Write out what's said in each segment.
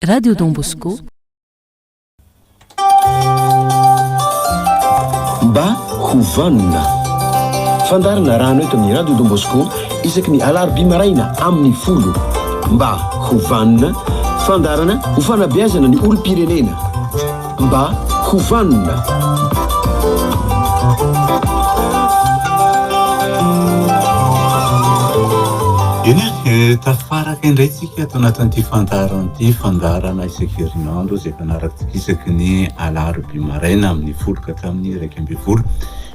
Radio Don Bosco. Mba ho vanona. Fandarina rano eto amin'ny Radio Don Bosco isaky ny alarobia maraina amin'ny folo. Mba ho vanona, fandarana ho fanabeazana ny olom-pirenena. Mba ho vanona. Tafaraka indray tsika ato anatin'ity fandaharana ity, fandaharana isaky herinandro izay fanaratsika isaky ny alarobia maraina amin'ny folo ka hatramin'ny iraika ambin'ny folo.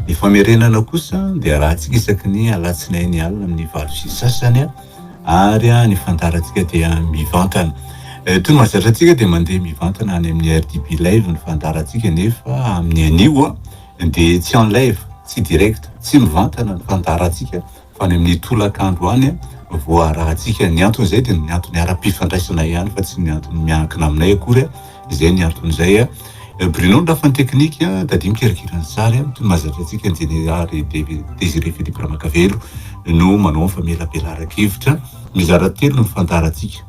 Ny famerenana kosa dia arahantsika isaky ny alatsinainy alina amin'ny valo sy sasany. ary ny fandaharantsika dia mivantana. Eh, toy ny mahazatra antsika dia mandeha mivantana any amin'ny RDB live ny fandaharantsika nefa amin'ny anio dia tsy en live, tsy direct, tsy mivantana ny fandaharantsika fa any amin'ny tolakandro any voarahantsika. Ny anton'izay dia ny antony ara-pifandraisana ihany fa tsy ny antony miankina aminay akory. Izay ny antony izay Bruno ny lafiny teknika, Daddy mikerakera ny sary, toy ny mahazatra antsika ny Jeneraly Désiré Philippe Ramakavelo no manao ny famelabelaran-kevitra. Mizara telo ny fandaharantsika.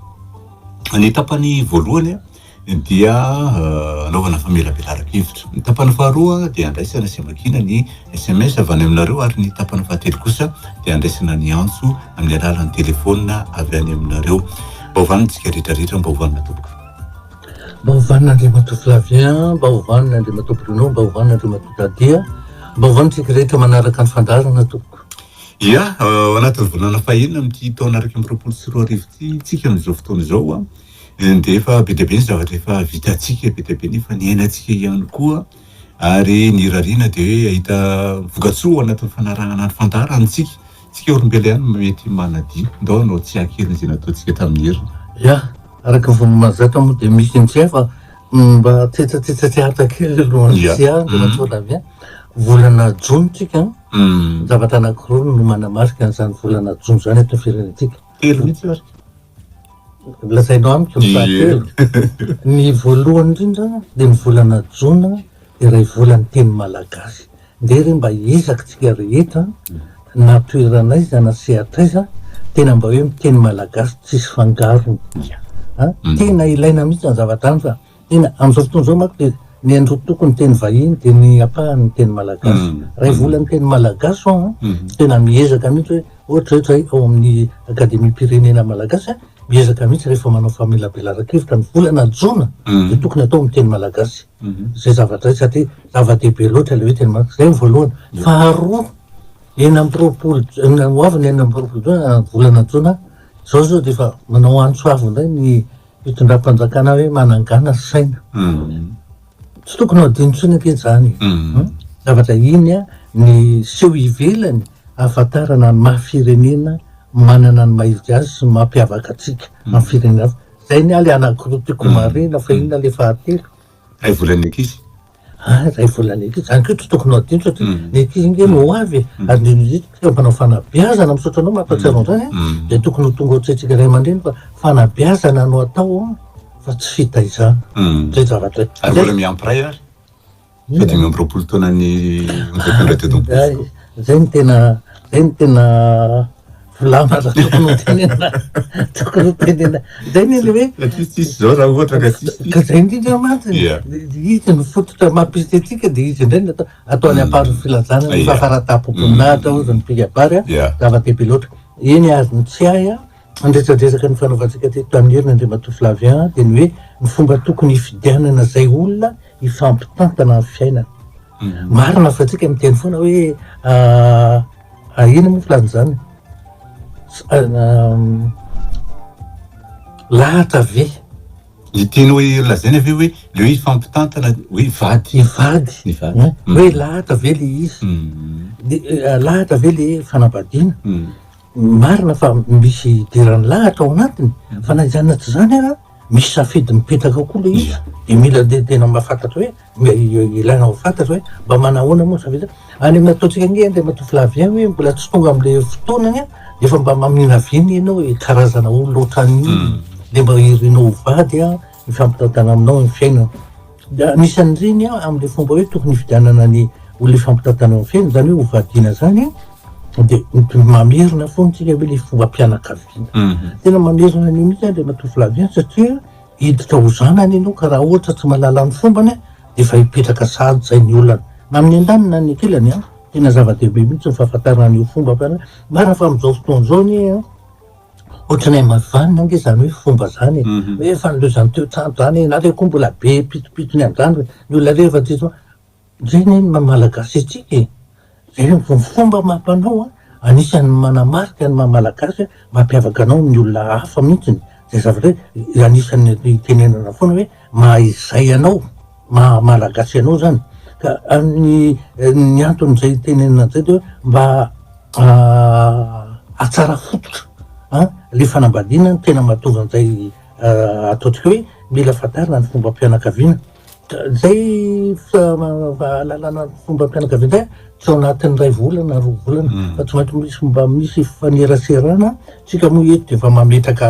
Ny tapany voalohany dia anaovana famelabelaran-kevitra. Ny tapany faharoa dia andraisana sy amakiana ny SMS avy any aminareo ary ny tapany fahatelo kosa dia andraisana ny antso amin'ny alalan'ny telefaonina avy any aminareo. Mba hovanintsika rehetra rehetra, mba hovanina tompoko. Mba ovanina Andriamatoa Flavien a, mba ovanina Andriamatoa Bruno, mba ovanina Andriamatoa Dady a, mba ovanina tsika rehetra manaraka ny fandaharana tompoko. Ia, ao anatin'ny volana fahiny amin'ity taona iraika amby roapolo sy roa arivo ity tsika amin'izao fotoana izao a, dia efa be dia be ny zavatra efa vitantsika, be dia be ny efa niainantsika ihany koa ary ny irariana dia hoe hahita vokatsoa ao anatin'ny fanarahana ny fandaharantsika. Tsika olombelo ihany no mety manadio, ndao anao tsy hankirina izay nataontsika tamin'ny heriny. Ya, araka ny vao mahazatra moa dia misy intsay fa mba tetsatetsatehatra kely aloha an, Ya. Tsia, Andriamatoa Ravin, volana jona tsika an, zavatra anankiroa no manamarika an'izany volana jona izany eto amin'ny firenentsika. Telo mihitsy ary. Lazainao amiko ny fahatelo. Ny voalohany indrindra dia ny volana jona dia iray volan'ny teny malagasy. Ndeha re mba hiezaka tsika rehetra na toeran'aiza na sehatr'aiza tena mba hoe miteny malagasy tsisy fangarony a! Tena ilaina mihitsy zany zavatra zany fa tena am'zao fotoana zao manko dia ny androy toko ny teny vahiny dia ny ampahany ny teny malagasy. Ray vola ny teny malagasy ho'aho a! Tena miezaka mihitsy hoe ohatra zay zahay ao amin'ny Akademiam-pirenena malagasy a! Miezaka mihitsy rehefa manao famelabelaran-kevitra ny volana jona dia tokony atao amin'ny teny malagasy. izay zava-dray satria zava-dehibe loatra ilay hoe teny marika. Izay ny voalohany. Faharoa, enina amby roapolo jona, ho avy ny enina amby roapolo jona, volana jona, izao izao dia efa manao antso avo indray ny fitondram-panjakana hoe manangana saina. Hmm. Tsy tokony ho adino intsony ange izany. Hmm. Hmm? Zavatra iny a, ny seho ivelany ahafantarana ny maha firenena manana ny maha izy azy sy ny mampiavaka antsika amin'ny firenena hafa. Zay ny ahy le anankiroa tiako marina fa inona le fahatelo? Ray volan'ny ankizy. Ah, ray volan'ny ankizy. Zany koa tsy tokony ho adino satria mm. ny ankizy nge no ho avy e. mm. ary ny eo mpanao fanabeazana misaotra anao mampahatsiaro mm. an'izany e. mm. dia tokony ho tonga ohatrentsika ray aman-dreny fa fanabeazana no atao fa tsy fitaizana. Mm. Zay zavatra. Ary vola miampiray ary. Fahadimy amby roapolo taona ny amin'izay mpitondra teto am-pontsiko. Zay ny tena, zay ny tena volana raha tokony ho tenenina, tokony ho tenenina. Zay ny le hoe. Ka tsisy tsisy zao raha ohatra ka tsisy tsisy. Ka zay indrindra mantsy, izy ny fototra maha mpisitry antsika dia izy indray no atao, atao any am-paron'ny filazana ny fahafaran-tampoboninahitra hozy ny mpikabary an, zava-dehibe loatra. Eny azony tsy hay an. Handrejadrezaka ny fanaovantsika teto Tanimena Andriamatoa Flavien dia ny hoe ny fomba tokony hifidianana izay olona hifampitantana amin'ny fiainana. Mhm. Marina fa tsika miteny foana hoe ah, ah, ina moa filazana izany? Ah, lahatra ve? Ny tiany hoe lazaina ve hoe leo hifampitantana hoe vady. Ny vady. Ny vady. Hoe mhm. lahatra ve le izy? Mhm. Eh, lahatra ve le fanambadiana? Marina fa misy hidiran'ny lahatra ao anatiny, fa na izany na tsy izany ara misy safidy mipetaka ao koa ilay izy, dia mila dia tena mba fantatra hoe mba ilaina ho fantatra hoe mba manahoana moa ny safidy hoe any amin'ny ataontsika ange Andriamatoa Flavien hoe mbola tsy tonga amin'ilay fotoanany an, dia efa mba mamina avy eny ianao hoe karazana olona ohatran'ny inona dia mba irinao ho vady an, hifampitantana aminao ny fiainana. Dia anisan'ireny an, amin'ilay fomba hoe tokony hifidianana ny olona hifampitantana amin'ny fiainana, izany hoe hovadiana izany an, dia mamerina foana isika hoe ilay fombam-pianakaviana. Mhm. Tena mamerina an'io mihitsy Andriamatoa Flavien satria hiditra ho zanany ianao ka raha ohatra tsy mahalala ny fombany an, dia efa hipetraka sahady izay ny olana. Na amin'ny an-daniny na ny an-kilany an, tena zava-dehibe mihitsy ny fahafantarana an'io fombam-pianakaviana. Marina fa amin'izao fotoana izao anie an, Ohatranay mavanona ange zany hoe fomba zany e, hoe efa niloza niteo trano zany, na le koa mbola be pitopitony any zany ny olona rehefa aty zao, zay ne ny maha malagasy antsika e, zay ny fomba maha mpanao an, anisan'ny manamarika ny maha malagasy an, mampiavaka anao amin'ny olona hafa mihitsy zay zavatra hoe anisan'ny itenenana foana hoe maha izay anao. maha malagasy anao zany ka ny ny antony zay itenenana an'izay de hoe mba ahatsara fototra an le fanambadiana tena mahatonga an'izay ataontsika hoe mila fantarina ny fombam-pianakaviana ka zay fahalalana ny fombam-pianakaviana zay tsy ao anatin'ny iray volana roa volana fa tsy maintsy misy mba misy fifaneraserana tsika moa eto de efa mametraka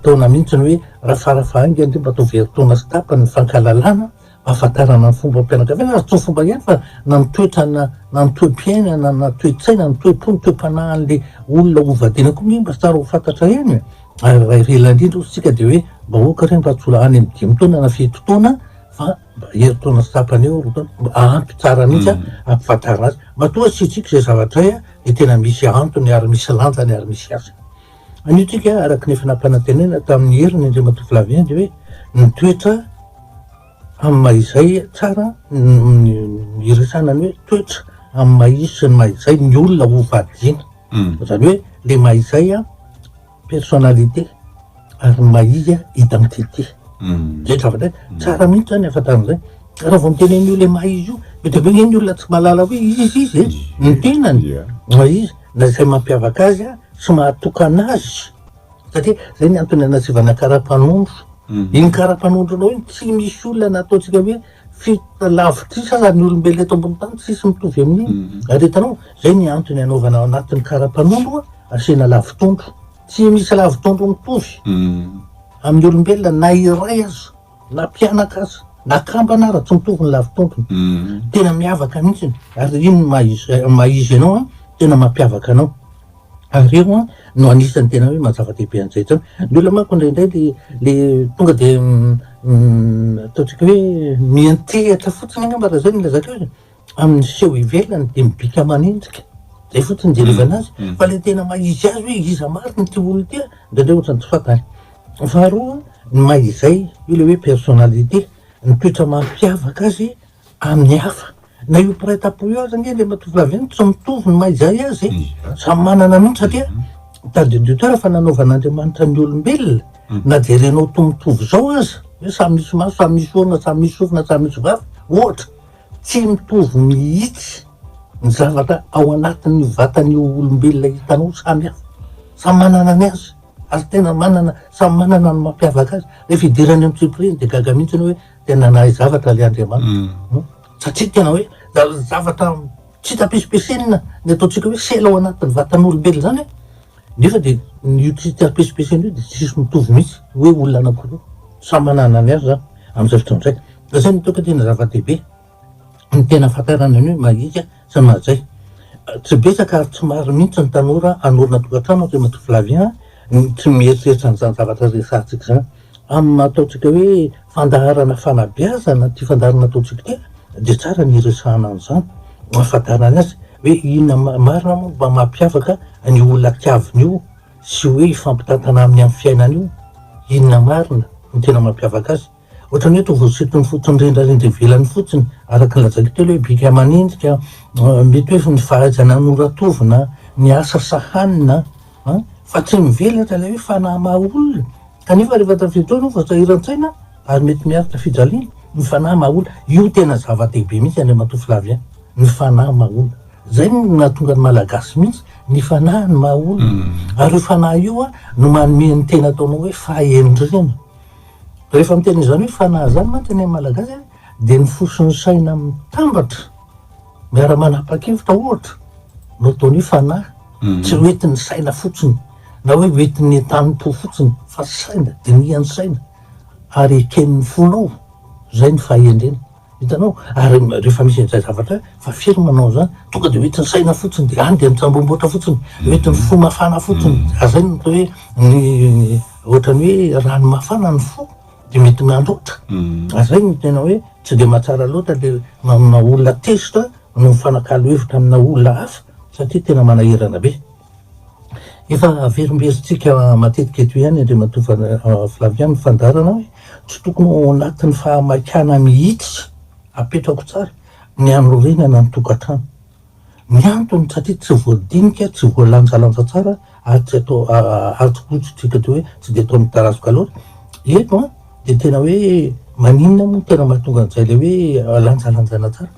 Taona mihitsy ny hoe raha fara fahainga dia mba ataovy herintaona sy tapany ny fankahalalana, ahafantarana ny fombam-pianakaviana ary tsy fomba ihany fa na ny toetra na na ny toe-piainana na toe-tsaina na ny toe-po ny toe-panahin'ilay olona hovadiana koa nge mba tsara ho fantatra eny e! ary raha iray lahy indrindra ozy tsika dia hoe mba aoka re mba tsy ho any amin'ny dimy taona na fito taona fa mba herintaona sy tapany eo roa taona mba ampy tsara mihitsy a hampifantarina azy matoa asiantsika izay zavatra hay a dia tena misy antony ary misy lanjany ary misy hasiny. Anio tsika araka ny efa nampanantenaina tamin'ny heriny Andriamatoa Flaviendy hoe ny toetra amin'ny maha izay tsara ny hiresahana ny hoe toetra amin'ny maha izy sy ny maha izay ny olona ho vadiana hmm. zany hoe le maha izay a personnalité ary ny maha izy a identité hmm. zay zavatra hmm. tsara mihitsy zany afatana zay raha vao mitenen'io le maha izy io be de be ny olona tsy malala hoe izy izy e ny tenany maha izy na izay mampiavaka azy sy mahatokana azy satria zay ny antony anasivana karapanondro iny karapanondronao iny tsy misy olona na ataontsika hoe fito lavitrisa aza ny olombelona eto ambony tany tsisy mitovy amin'iny mhm. ary hitanao zay ny antony anaovana ao anatin'ny karapanondro asiana lavitondro tsy misy lavitondro mitovy mhm. amin'ny olombelona na iray aza Na mpianaka aza, na kambana ara tontolo ny lavitontony. Tena miavaka mihitsy ary iny no maha izy anao an, tena mampiavaka anao. Ary io an no anisany tena hoe maha zava-dehibe an'izay izao. Ny olona manko indraindray le le tonga dia ataontsika hoe miantehatra fotsiny angamba raha izay no ilazako io e. amin'ny seho ivelany dia mibika manenjika, zay fotsiny ijerevana azy, fa ilay tena maha izy azy hoe iza marina ity olona ity an, indraindray ohatran'ny tsy fantany. Faharoa, ny maha izay, io ilay hoe personnalité, ny toetra mampiavaka azy amin'ny hafa, na io mpiray tampo io aza ange ilay matovolahy io tsy mitovy ny maha izay azy e, samy manana mihitsy satria tadidiotera fa nanaovan'Andriamanitra ny olombelona, na jerenao ho toa mitovy izao aza, hoe samy misy maso, samy misy orona, samy misy sofina, samy misy vava, ohatra. Tsy mitovy mihitsy ny zavatra ao anatin'ny vatan'io olombelona hitanao, samy hafa, samy manana ny azy ary tena manana, samy manana ny mampiavaka azy, rehefa idirany amin'ny tsipiriany dia gaga mihitsy ianao hoe tena nahay zavatra ilay Andriamanitra, satria tena hoe zavatra tsy tapisimpisinina ny ataontsika hoe sela ao anatin'ny vatan'olombelona izany e! Nefa dia io critère pesipesiny io dia tsisy mitovy mihitsy hoe olona anankiroa. Samy manana ny azy izany amin'izay fotoana izay. Izay no toetra tena zava-dehibe ny tena hahafantarana ny hoe mahika sy ny mahazay. Tsy betsaka ary tsy maro mihitsy ny tanora hanorina tokantrano ankehimatovolahy vy an, ny tsy mieritreritra an'izany zavatra resahantsika izany. Amin'ny maha ataontsika hoe fandaharana fanabeazana ity fandaharana ataontsika ity dia tsara ny hiresahana an'izany, hahafantarana azy hoe inona marina moa mba mampiavaka an'io olona tiaviny io sy hoe hifampitantana aminy amin'ny fiainany io, inona marina no tena mampiavaka azy. Ohatran'ny hoe toa voasintony fotsiny rendrarendra ivelany fotsiny, araka ny lazaiko teo ilay hoe bika aman'endrika, mety hoe ny fahaizana hanoratovina, ny asa sahanina, An! fa tsy mivelatra ilay hoe fanahy maha olona, kanefa rehefa tamin'izay fotoana io vao sahiran-tsaina ary mety miaro tafijaliana, ny fanahy maha olona, io tena zava-dehibe mihintsy Andriamatoa Flavien, ny fanahy maha olona, izay no nahatonga ny Malagasy mihintsy, ny fanahy no maha olona, ary io fanahy io an! no manome ny tena ataonao hoe fahendrena, rehefa miteny izany hoe fanahy izany mantsy ny an'ny Malagasy an! dia ny fo sy ny saina mitambatra, Miara-manapa-kevitra ohatra no tony fanahy, tsy ho entin'ny saina fotsiny na hoe ho entin'ny entanim-po fotsiny fa saina, dinihan'ny saina ary eken'ny fonao, izay ny fahendrena. Hitanao? Ary rehefa misy an'izay zavatra hoe fa firy manao an'izany, tonga dia ho entin'ny saina fotsiny dia any dia mitsambomboatra fotsiny, ho entin'ny fo mafana fotsiny, ary izay no atao hoe ny ohatran'ny hoe rano mafana ny fo. dia mety mandoto. Izay no tena hoe tsy dia mahatsara loatra le manao olona tezitra no mifanakalo hevitra amina olona hafa satria tena manahirana be. Efa averimberitsika matetika eto ihany Andriamatoa Flavien ny fandaharana hoe tsy tokony ho ao anatin'ny fahamaikana mihitsy, apetrako tsara, ny hanorenana ny tokantrano. Ny antony satria tsy voadinika, tsy voalanjalanja tsara ary tsy atao ary tsy fototsika dia hoe tsy dia atao midarazoka loatra. Eto an dia tena hoe maninona moa no tena mahatonga an'izay ilay hoe alanjalanjaina tsara.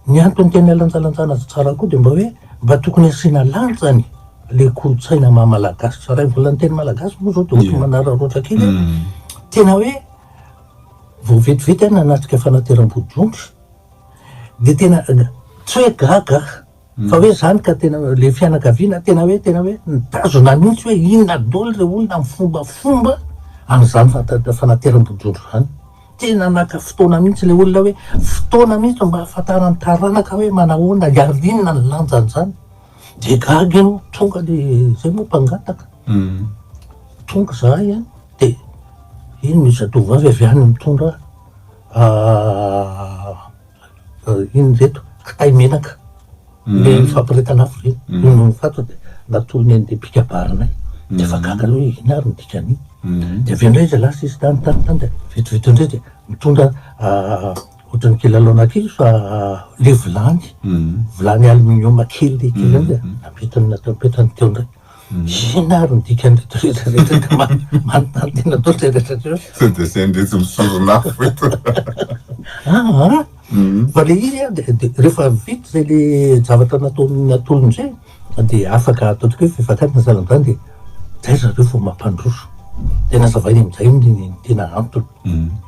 Ny antony tena alanjalanjana azy tsara koa dia mba hoe mba tokony asiana lanjany ilay kolontsaina maha malagasy tsara. Raha hivolana teny malagasy moa izao dia ohatran'ny manararaotra kely hoe tena hoe vao vetivety aho nanatrika fanateram-bodiondry. Dia tena tsy hoe gaga aho fa hoe izany ka tena hoe ilay fianakaviana tena hoe tena hoe nitazona mihitsy hoe inona daholo ilay olona mifombafomba an'izany fanateram-bodiondry izany. Tena naka fotoana mihitsy ilay olona hoe fotoana mihitsy mba hahafantaran'ny taranaka hoe manao ahoana, hiaro inona ny lanjan'izany. Dia gaga ianao, tonga ilay izay moa mpangataka. Tonga izahay an, dia iny misy zatovovavy avy any mitondra. inona ve eto? kitay menaka le nifampirehetana afo ireny, iny no nifato dia natorony an'ilay mpikabarinay dia efa gaga aloha hoe inona ary ny dikan'iny, dia avy eo indray izy lasa izy tany tany tany dia vetivety eo indray dia nitondra ohatran'ny kilalaona kely fa le vilany vilany aluminium kely le kely ihany dia nampentiny nampentiny teo indray Inona ary ny dikan'ireto rehetra rehetra dia manontany tena toa tseratra atreo. Sao dia asain'ireto misoron'afo eto. Aa fa ilay izy an dia rehefa vita izay ilay zavatra nataon'ny atolony izay dia afaka ataontsika hoe fivakana na salan'izany dia izay ry zareo vao mampandroso. Dia nazavainy amin'izay ny tena antony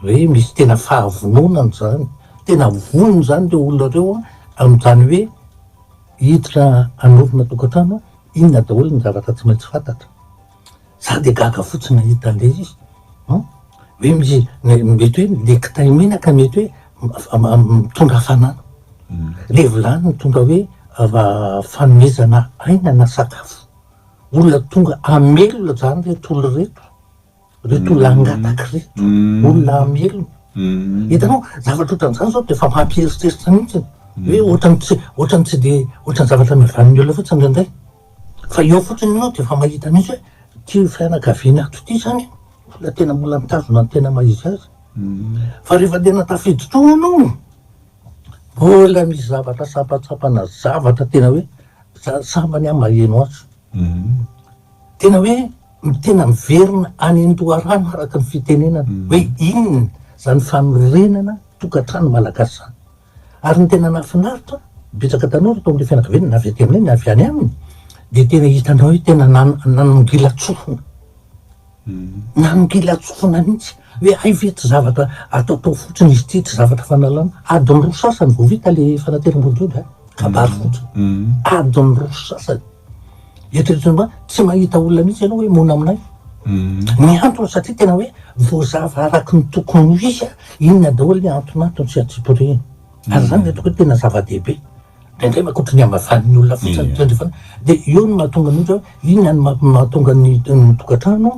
hoe misy tena fahavononana izany, tena vonona izany ireo olona ireo an, amin'izany hoe hiditra hanorina tokantrano Inona daholo ny zavatra tsy maintsy fantatra? Za dia gaga fotsiny nahita an'ilay izy an! Hoe misy mety hoe le kitay menaka mety hoe mitondra hafanana, le vilany mitondra hoe fanomezana aina na sakafo, olona tonga hamelona zany reto olona reto. Ireto olona hangataka ireto, olona hamelona. Hitanao, zavatra ohatran'izany izao dia efa mampieritreritra mihitsy e. Hoe ohatran'ny tsy, ohatran'ny tsy dia, ohatran'ny zavatra mivanin'ny olona fotsiny indraindray. Fa eo fotsiny ianao dia efa mahita mihitsy hoe ity fianakaviana ato ity izany olona tena mbola mitazona ny tena maha izy azy. Fa rehefa tena tafiditra ao ianao, mbola misy zavatra sampantsampana, zavatra tena hoe, za- sambany aho maheno azy. Tena hoe. no tena miverina any an-doharano araka ny fitenenana hoe inona izany fanorenana tokantrano malagasy izany. Ary ny tena nahafinaritra, betsaka tanora tao amin'ilay fianakaviana, na avy aty aminay na avy any aminy, dia tena hitanao hoe tena nanongilan-tsofina, nanongilan-tsofina mihitsy hoe hay ve tsy zavatra ataotao fotsiny izy ity, tsy zavatra fanalana. Adiny roa sasany vao vita ilay fanateram-bodiondry an, kabary fotsiny, adiny roa sasany. Eritrereto mba tsy mahita olona mihitsy ianao hoe mona aminay. Ny antony satria tena hoe voazava araky ny tokony ho izy a, inona daholo ny antonantony sy antsipirihiny. Ary izany no hitako hoe tena zava-dehibe. Indraindray mankoatry ny hamavan'ny olona fotsiny ny tandrefana dia eo no mahatonga ny ohatra hoe inona no mahatonga ny ny tokantrano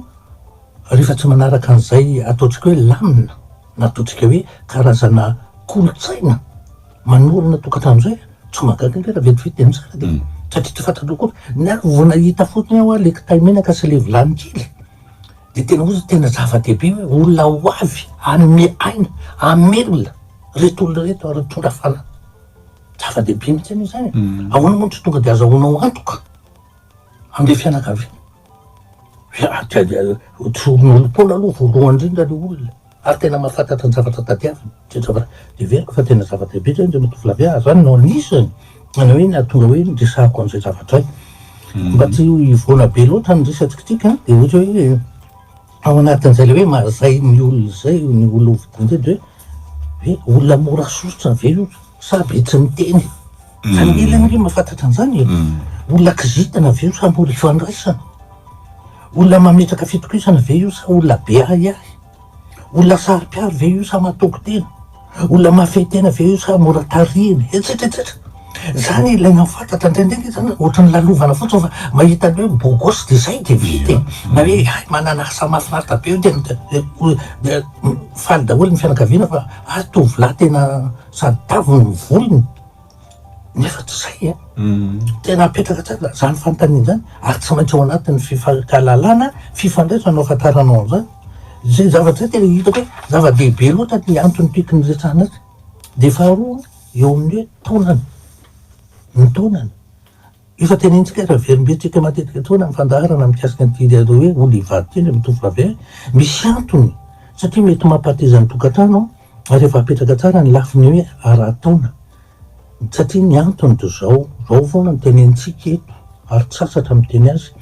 rehefa tsy manaraka an'izay ataontsika hoe lamina na ataontsika hoe karazana kolontsaina. Manorina tokantrano zay tsy mahagaga nge raha vetivety de mitsara de satria tsy fantatrao koa ny ahy vao nahita fotony aho le kitay menaka sy le vilany kely de tena ohatry tena zava-dehibe hoe olona ho avy hanome aina hamelona reto olona reto ary mitondra fanahy zava-dehibe mihitsy anie zany e. Ahoana moa no tsy tonga de azahoanao antoka amle fianakaviana. Mihaino-poana aloha voalohany indrindra ny olona ary tena mahafantatra ny zavatra tadiaviny, izay ny zavatra heveriko fa tena zava-dehibe izany, izay mahatonga ahy izany no anisany tena hoe nahatonga hoe niresahako an'izay zavatra izay. Mba tsy hivoana be loatra ny resatsika ity ka, dia ohatra hoe ao anatin'izay ilay hoe mahazay ny olona izay, ny olona hovidian'izay dia hoe olona mora sosotra ve io? Sa be tsy miteny? Fanely ange mahafantatra an'izany e! Olona kizitina ve io sa mora ifandraisana? Olona mametraka fitokisana ve io sa olona be ahiahy? Olona saro-piaro ve io sa mahatoky tena? Olona mahafehy tena ve io sa mora tarihina? Etsetra etsetra. Izany ilaina hafantatra, indraindray ange izany ohatry ny lalovana fotsiny fa mahita an'ilay hoe beau gosse dia izay dia vita e! Na hoe hay manana asa mahafinaritra be io dia faly daholo ny fianakaviana fa. ary tovolahy tena sady tavy ny volony nefa tsy zay e, tena apetraka tsara zany fanontaniana zany ary tsy maintsy ao anatin'ny fifankahalalana, fifandraisana no ahafantaranao an'izany, zay zavatra zay tena hitako hoe zava-dehibe loatra ny antony tiako niresahana azy, dia faharoa eo amin'ny hoe taonany, ny taonany. Efa tenenintsika eto Iavolobe, tsika matetika etoana amin'ny fandaharana mikasika ny didy an'ireo hoe olona hivady telo amin'ny tovovavy ahy, misy antony satria mety mampateza ny tokantrano ary efa apetraka tsara ny lafiny hoe ara-taona satria ny antony dia izao, izao foana no tenenintsika eto ary tsy sasatra miteny azy,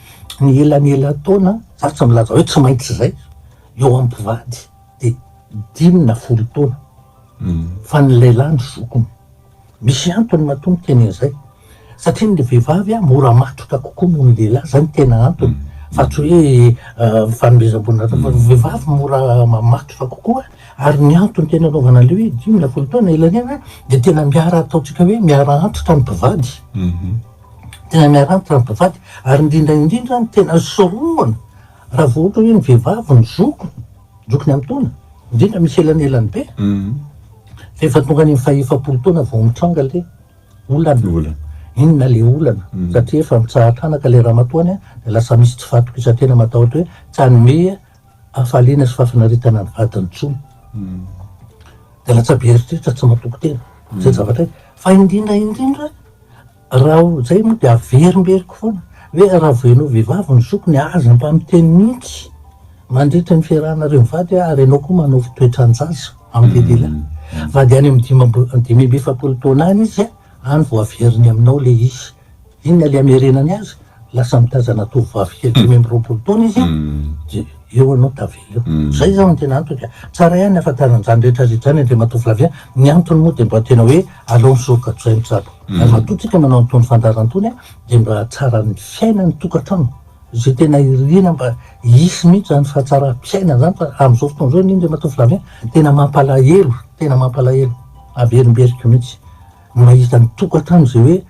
ny elan'elan-taona, za tsy milaza hoe tsy maintsy izay, eo amin'ny mpivady dia dimy na folo taona. Fa ny lehilahy no zokiny. Misy antony matoa miteny an'izay. Satria ny vehivavy mora matotra kokoa noho ny lehilahy, izay no tena antony. Fa tsy hoe fanomezam-boninahitra foana. Ny vehivavy mora mamatotra kokoa, ary ny antony tena anaovana an'ilay hoe dimy na folo taona ilay an'iny an, dia tena miara ataontsika hoe miara antitra ny mpivady. Tena miara antitra ny mpivady. Ary indrindra indrindra ny tena sorohana, raha vao ohatra hoe ny vehivavy no zokiny, Jokin'ny amin-taona, indrindra misy elanelany be, fa efa tonga any amin'ny fahaefapolo taona vao mitranga ilay olana. Inona ilay olana? Satria efa mitsaha-tranaka ilay ramatoany, dia lasa misy tsy fahatokisantena matahotra hoe tsy hanome hafaliana sy fahafinaretana ny vadiny intsony. Dia latsa-be eritreritra tsy matoky tena. Izay zavatra iray. Fa indrindra indrindra, Raha ho zay moa dia averimberiko foana ve raha voenao vehivavy ny zokiny a aza mpamiteny mihintsy mandritra ny fiarahanareo mivady hoe ary ianao koa manao fitoetran-jaza amin'ny lehilehilahy vady any amin'ny dimy amby efapolo taona any izy a any vao averiny aminao le izy inona le amerenany azy Lasa mitazana tovovavy kely dimy amby roapolo taona izy dia eo ianao tavela eo. Izay izao no tena antony ka. Tsara ihany ny hahafantarana an'izany rehetra rehetra izany Andriamatoa Flavien. Ny antony moa dia mba tena hoe aleo misoroka toy izay ny tsabo. Ary matoa tsika manao an'itony fandaharana itony dia mba hahatsara ny fiainan'ny tokantrano. Izay tena iriana mba hisy mihitsy izany fahatsaram-piainana izany fa amin'izao fotoana izao anie Andriamatoa Flavien tena mampalahelo, tena mampalahelo. Averimberiko mihitsy ny mahita ny tokantrano izay hoe.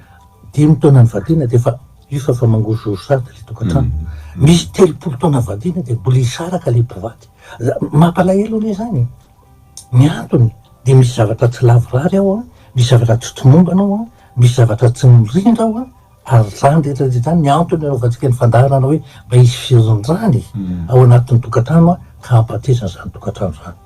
Dimy taona nivadiana dia efa efa efa mangozohozo sahady ilay tokantrano. Misy telopolo taona nivadiana dia mbola hisaraka ilay mpivady. Mampalahelo anie izany e! Ny antony dia misy zavatra tsy lavorary ao an, misy zavatra tsy tomombana ao an, misy zavatra tsy mirindra ao an, ary izany rehetra rehetra izany ny antony anaovantsika ny fandaharana hoe mba hisy firindràna e! ao anatin'ny tokantrano an, ka hampateza an'izany tokantrano izany.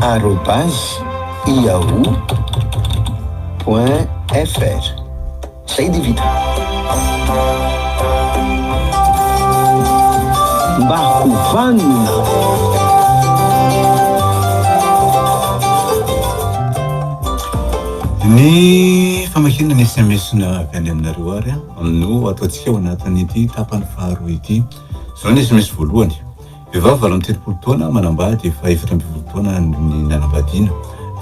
arobase yahoo point fr zay de vita mba ho vanona Ny famakiana ny sms na avy any aminareo ary no ataontsika ao anatin'ity tapany faharoa ity. Izao ny sms voalohany. Vehivavy valo amby telopolo taona manambady efa efatra ambin'ny folo taona ny nanambadiana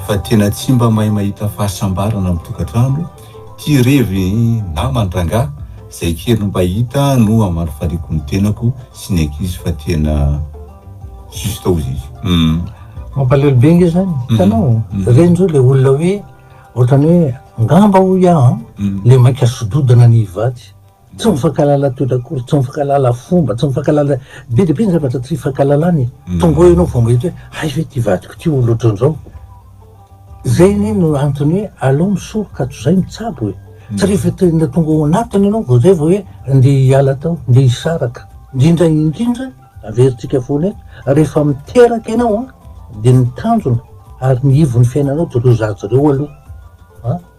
fa tena tsy mba mahay mahita fahasambarana amin'ny tokantrano ity revy namany rangahy izay kely mba hita no hamaly faliako ny tenako sy ny ankizy fa tena juste ozy izy. Hum. Mampalahelo be nge zany, hitanao? Ireny zao le olona hoe ohatran'ny hoe angamba hoy aho an, le maika sododana ny hivady. Tsy mifankahalala toetra akory, tsy mifankahalala fomba, tsy mifankahalala, be dia be ny zavatra tsy ifankahalalana e! Tonga eo ianao vao mahita hoe hay ve ity vadiko ity olona ohatran'izao? Zay anie no antony hoe aleo misoroka ato zay mitsabo e! Tsy rehefa tena tonga ao anatiny ianao vao zay vao hoe ndeha hiala tao, ndeha hisaraka. Indrindra indrindra, averintsika foana eto, rehefa miteraka ianao an, dia ny tanjona ary ny ivon'ny fiainanao dia ireo zaza ireo aloha an!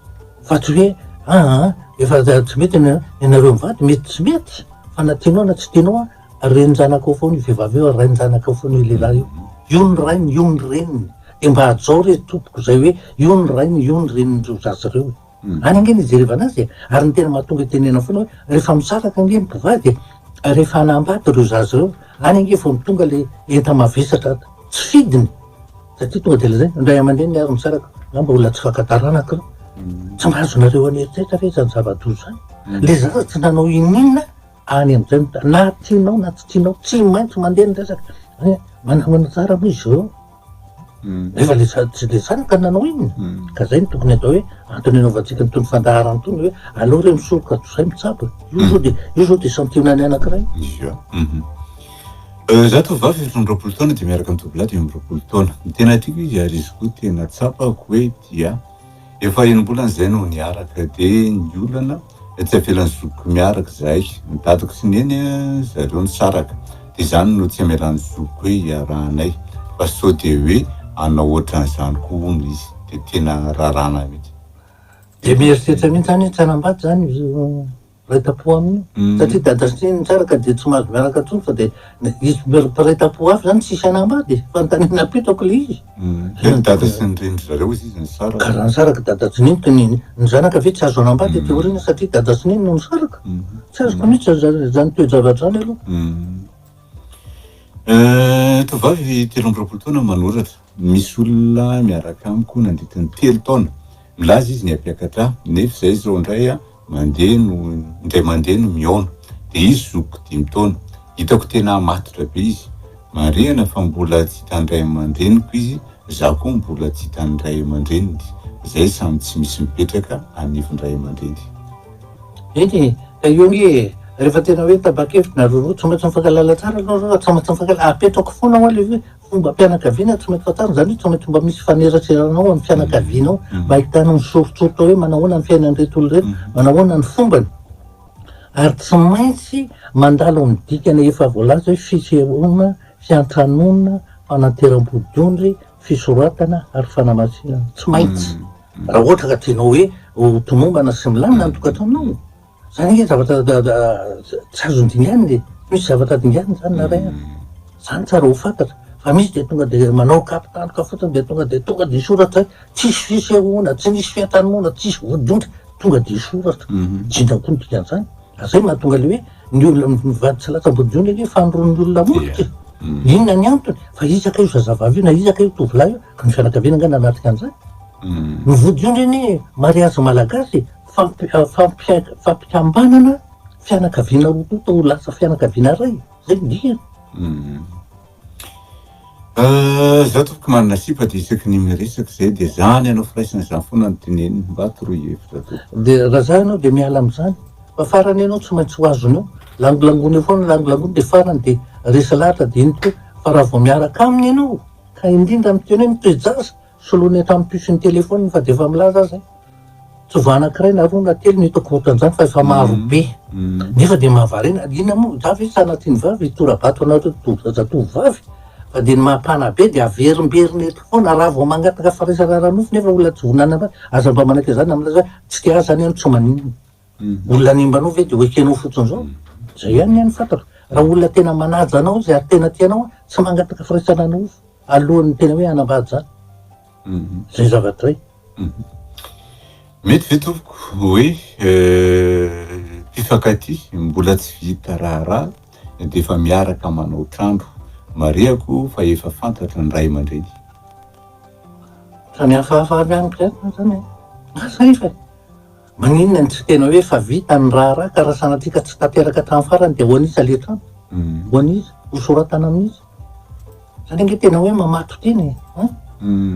Fa tsy hoe aa efa tsy mety ny anareo mivady mety tsy mety fa na tianao na tsy tianao a renin-janakao foana io vehivavy io ary rain-janakao foana io lehilahy io, io ny rainy io ny reniny dia mba hajao re tompoko izay hoe io ny rainy io ny renin'ireo zaza ireo e! any ange no ijerevana azy e! ary ny tena mahatonga itenenana foana hoe rehefa misaraka ange ny mpivady e! rehefa hanambady ireo zaza ireo any ange vao tonga ilay enta-mavesatra tsy fidiny Satria tonga dia lazaina, ny ray aman-dreniny ary misaraka, na mba olona tsy fanta-taranaka ireo. Tsy mba azonareo any eritreritra ve izany zava-doza izany? Ilay zaza tsy nanao ininona any amin'izay no ta- na tianao na tsy tianao, tsy maintsy mandeha ny resaka. Hoe manamana tsara moa izy ireo. Nefa ilay za- tsy dia zanaka no nanao inona. Ka izay no tokony atao hoe antony anaovantsika an'itony fandaharana itony hoe aleo re misoroka toy izay mitsabo e. Io izao dia, io izao dia santionany anankiray. Ia. Izaho tovovavy efatra amby roapolo taona dia miaraka amin'ny tovolahy dimy amby roapolo taona. Ny tena tiako izy ary izy koa tena tsapako hoe tia ahy. Efa enim-bolana izay no niaraka dia ny olana dia tsy avelan'ny zokiko miaraka izahay. Ny dadako sy neny zareo nisaraka dia izany no tsy amelan'ny zokiko hoe iarahanay fa sao dia hoe hanao ohatran'izany koa hono izy dia tena rarana mihitsy. Dia mieritreritra mihitsy izany hoe tsy hanambady izany. Miray tampo aminy satria dia adresser ny tsara ka dia tsy mahazo miaraka intsony fa dia izy mpiray tampo hafa izany tsisy hanambady e! Fanontaniana apetrako ilay izy. Ve ny dada sy ny reny ry zareo izy izy nisaraka? Ka raha nisaraka dada sy neny ka ny ny zanaka ve tsy azo hanambady aty aoriana satria dada sy neny no nisaraka? Tsy azoko mihitsy izany toe-javatra izany aloha. Tovovavy telo amby roapolo taona manoratra. Misy olona miaraka amiko nandritra ny telo taona, milaza izy ny hampiakatra ahy, nefa izay izao indray mandeha no indray mandeha no mihaona. Dia izy zokiko dimy taona. Hitako tena matotra be izy. Marihana fa mbola tsy hitan'ny ray aman-dreniko izy, izaho koa mbola tsy hitan'ny ray aman-dreniny. Izay samy tsy misy mipetraka anivon-dray aman-dreny. Eny e, eo anie e! Rehefa tena hoe tapa-kevitra na roroa, tsy maintsy mifankahalala tsara aloha, raha tsy maintsy mifankahalala, apetrako foana ho'a le hoe tombam-pianakaviana tsy mety fantarina, izany hoe tsy maintsy mba misy faneraserana ao amin'ny fianakaviana ao mm. mba ahitana ny soritsoritra hoe manahoana ny fiainan'ireto olona ireto, mm. manahoana ny fombany. Ary tsy maintsy mandalo amin'ny dikana efa voalaza hoe fisehoana, fiantranoana, fananteram-bodiondry, fisoratana ary fanamasinana. Tsy maintsy. Mm. Raha ohatra ka tianao hoe ho tomombana sy milamina ny tokantranonao, Zany ange zavatra tsy azo dinganina e, tsy misy zavatra dinganina zany na ray a, zany tsara ho fantatra fa misy de tonga de manao kapa tandroka fotsiny de tonga de tonga de hisoratra hoe tsisy fisehoana, tsy nisy fiantranoana, tsisy vodiondry, tonga de hisoratra, jinja koa ny dikan'zany, ary zay mahatonga le hoe ny olona mivady tsy latsa-bodiondry ange famoron'ny olona molotra e, inona ny antony? Fa iza kay io zazavavy io na iza kay io tovolahy io ka ny fianakaviana ange nanatrika an'zany? Ny vodiondry anie mariazy malagasy e! fampikambanana fianakaviana roa tonta ho lasa fianakaviana iray, zay ny dikany. Za tokoko manana sipa de isaky ny miresaka zay de za ny anao firaisana zany foana ny teneniny mba toroy hevitra tompoko. De raha za ianao de miala am'zany fa farany ianao tsy maintsy ho azonao, langolangony eo foana langolangony de farany de resy lahatra de iny koa fa raha vao miaraka aminy ianao ka indrindra miteny hoe ny toe-jaza Soloina eto amin'ny puce-n'ny telefaoniny fa dia efa milaza aza hoe tsy vao anankiray na roa na telo no hitako ohatran'izany fa efa maro be. Nefa dia mahavariana, inona moa za ve tsy sanatria ny vavy hitora-bato anareo to- zatovovavy? Fa dia ny maha-panahy be dia averimberina eto foana, raha vao mangataka firaisana ara-nofo nefa olona tsy vonona hanambady, aza mba manaiky an'izany na milaza hoe tsy te ahy izany aho no tsy maninona. Olona hanimba anao ve dia ho ekenao fotsiny izao? Izay ihany ny ahy no fantatro. Raha olona tena manaja anao izy ary tena tia anao, tsy mangataka firaisana ara-nofo. alohan'ny tena hoe hanambady zany zay zavatra hoe mety ve tompoko hoe mpifankatia mbola tsy vita raharaha dia efa miaraka manao trano marihako fa efa fantatra ny ray aman-dreny samy hafahafa avy any zany e mahasahifa e Maninona no tsy tena hoe efa vita ny raharaha ka raha sanatria ka tsy tanteraka hatramin'ny farany dia ho an'iza ilay trano? Ho an'iza? Ho soratana amin'iza? Izany ange tena hoe mamatotra iny e! An?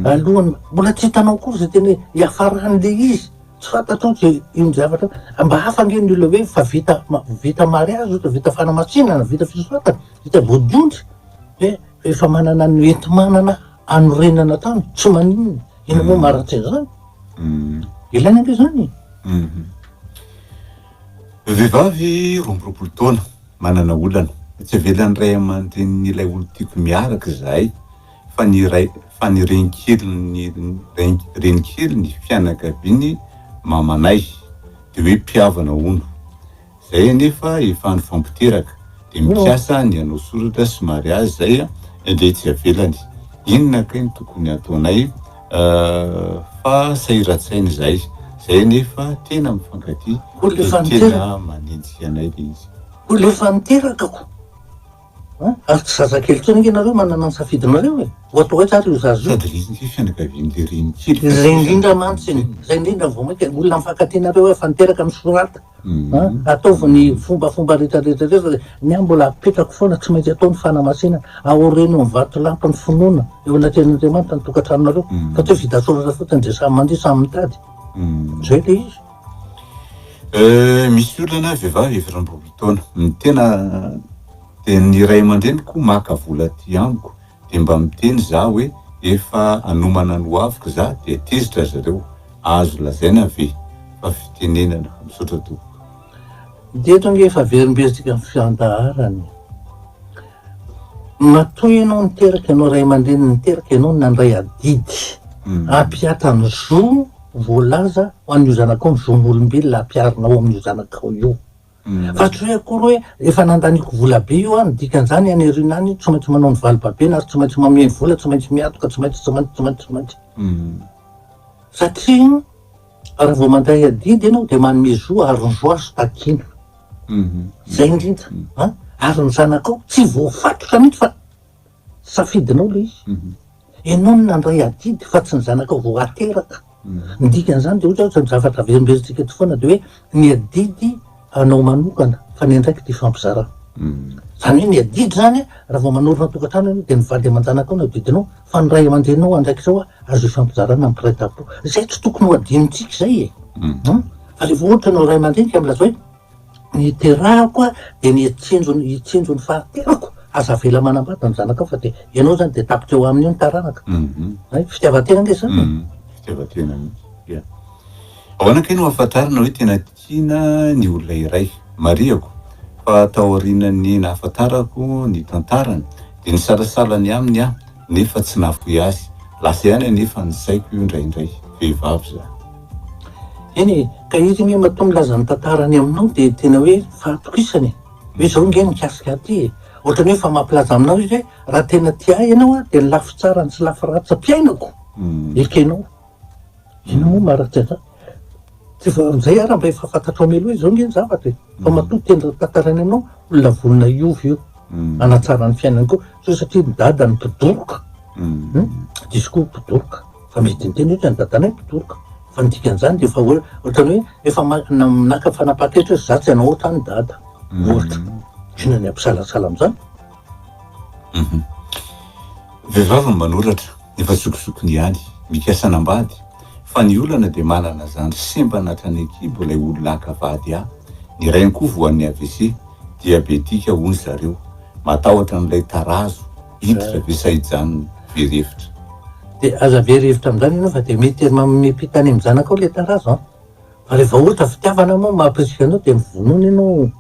Alohan'ny, mbola tsy hitanao akory izay tena hoe hiafaran'ilay izy, tsy fantatrao izay iny zavatra, mba hafa ange ny olona hoe efa vita ma- vita mariazy ohatra, vita fanamasinana, vita fisoratana, vita vodiondry, dia efa manana ny enti-manana hanorenana trano, tsy maninona. Inona moa marina tsy izany? Ilaina ve izany e? Vehivavy roa amby roapolo taona, manana olana. Tsy avelan'ny ray aman-drenin'ilay olon-tiako miaraka izahay fa ny ray fa ny renikeliny renikeliny fianakaviany mamanay dia hoe mpihavana hono. Zay anefa efa nifampiteraka de mikasa ny hanao soratra sy mariazy zay de tsy avelany, inona kay no tokony ataonay fa sahiratsaina izahay, zay anefa tena mifankatia de tena manenjika anay le izy. Koa le efa niteraka ko. Ary tsy zazakely intsony ange nareo manana ny safidinareo e! Ohatrohaitra ary io zaza io. Sady resy ny fianakavian'ilay renikely ka. Izay indrindra mantsy e! Izay indrindra vao mainka olona mifankatia nareo efa niteraka misorata a! Ataovy ny fombafomba rehetrarehetra rehetra dia ny ahy mbola apetrako foana tsy maintsy atao ny fanamasinana, aoreno ny vatolampin'ny finoana eo anatrehan'Andriamanitra ny tokantranonareo fa tsy hoe vita soratra fotsiny dia samy mandihy samy mitady. Izay ilay izy. Euh misy olana vehivavy efa efatra amby roapolo taona ny tena dia ny ray aman-dreniko maka vola aty amiko dia mba miteny za hoe efa anomana ny hoaviko za dia tezitra ry zareo azo lazaina ve fa fitenenana misaotra tompoko Dia eto ange efa averimberitsika ny fiandaharana e. Matoa ianao niteraka, ianao ray aman-dreny niteraka, ianao nandray adidy, hampihatany zo Voalaza ho an'io zanakao ny zon'olombelona ampiharinao ao amin'io zanakao io. Fa tsy hoe akory hoe efa nandaniako vola be io aho, ny dikan'izany any aoriana any tsy maintsy manao ny vali-babena ary tsy maintsy mameno vola, tsy maintsy miatoka, tsy maintsy, tsy maintsy, tsy maintsy, tsy maintsy. Satria raha vao mandray adidy ianao dia manome zo ary ny zo azo takiana. Izay indrindra. Ary ny zanakao tsy voafatotra mihitsy fa. Safidinao ilay izy. Ianao no nandray adidy fa tsy ny zanakao vao ateraka. Ny dikan'izany dia ohatra ny zavatra averimberintsika eto foana dia hoe ny adidy anao manokana fa ny andraikitra ifampizarana. Izany hoe ny adidy izany raha vao manorina tokantrano ianao dia ny vady aman-janakao no adidinao fa ny ray aman-dreninao andraikitra ao azo ifampizarana mpiray tampo. Izay tsy tokony ho adinontsika izay e! Fa rehefa ohatra ianao ray aman-dreny ka milaza hoe. Ny iterahako aho dia ny hitsinjo ny hitsinjo ny fahaterako, aza avela manambady ny zanakao fa dia ianao izany dia tapitra eo aminy eo ny taranaka. Hay, fitiavan-tena ange izany e! Fitiavan-tena mihitsy, ya. Ahoana kay no ahafantarana hoe tena tiana ny olona iray? Marihako fa taorianan'ny nahafantarako ny tantarany dia nisalasala ny aminy aho nefa tsy nahafoy azy. Lasa ihany anefa ny saiko indraindray. Vehivavy izany. Eny e, ka iry anie matoa milaza ny tantara any aminao dia tena hoe fahatokisana e! hoe zao nge mikasika ahy ty e! ohatrany hoe efa mampilaza aminao izy hoe raha tena tia ahy ianao dia ny lafy tsarany sy lafy ratsy ampiainako ekenao! inona moa maharary tsy an'izany? tsy vao amin'izay ara mba efa fantatrao mialoha hoe zao nge ny zavatra e! fa matoa tena raha tantara any aminao olona vonona hiova io hanatsara ny fiainany koa sao satria ny dada no mpidoroka, diso koa mpidoroka. Fa misy dian-teny ohatra ny dadanay mpitoroka, fa ny dikan'izany dia efa hoe ohatran'ny hoe efa naka fanapahan-kevitra hoe za tsy hanao ohatran'i dada, ohatra. Inona ny hampisalasala amin'izany? Vehivavy no manoratra, efa zokizokiny ihany, mikasa hanambady, fa ny olana dia manana zandry sembana hatrany an-kibo ilay olona haka vady a! Ny rainy koa voan'ny AVC, diabetika hono zareo, matahotra an'ilay tarazo, Hiditra ve sa hijanona? Very hevitra. Dia aza very hevitra amin'izany ianao fa dia mety mamimipita any amin'ny zanakao ilay tarazo an! Fa raha vao ohatra fitiavana moa mahampirisiky anao dia mivonona ianao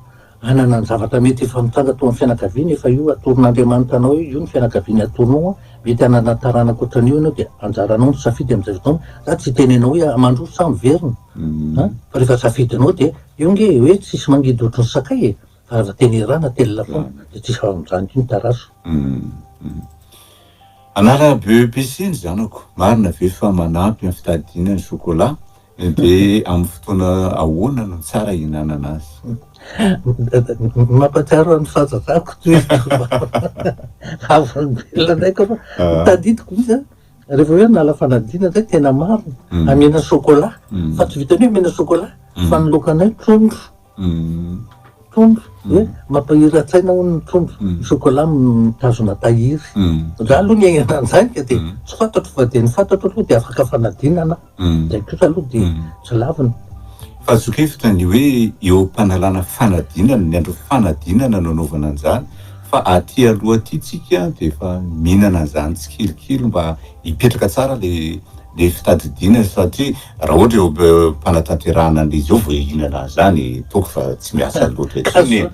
hanana ny zavatra mety efa mitranga tao amin'ny fianakaviana efa io atoron'Andriamanitra anao io, io ny fianakaviana atoronao an! Mety hanana taranaka ohatran'io ianao dia anjaranao ny safidy amin'izay fotoana, za tsy hiteny anao hoe mandroso sa miverina an! Fa rehefa safidinao dia eo nge hoe tsisy mangidy ohatry ny sakay e! Fa aza tenerana telina foana de tsisy faharonjana intsony taraso. Hum. Anarana BEPC ny zanako, marina ve fa manampy amin'ny fitadidiana ny chocolat? Dia amin'ny fotoana ahoana no tsara hihinanana azy? Mampahatsiaro ahy ny fahazazako toy izao. Vavolombelona indray koa fa tadidiko mihitsy an, rehefa hoe hanala fanadinana izay tena marina, hamena chocolat, fa tsy vitan'ny hoe hamena chocolat, fa ny laokanay trondro. Tombo hoe mampahiran-tsaina hono ny tombo, ny chocolat mitazona tahiry. Za aloha niainana an'izany ka dia tsy fantatro fa dia ny fantatro aloha dia afaka fanadinana aho, izay kosa aloha dia tsy lavina. Fa azo sokafana ny hoe eo am-panalana fanadinana, ny andro fanadinana no anaovana an'izany fa aty aloha aty tsika dia efa mihinana an'izany tsikelikely mba hipetraka tsara le ny fitadidiana satria raha ohatra eo am-panatanterahana an'izy io vao hihinana an'izany toaka fa tsy miasa loatra intsony e!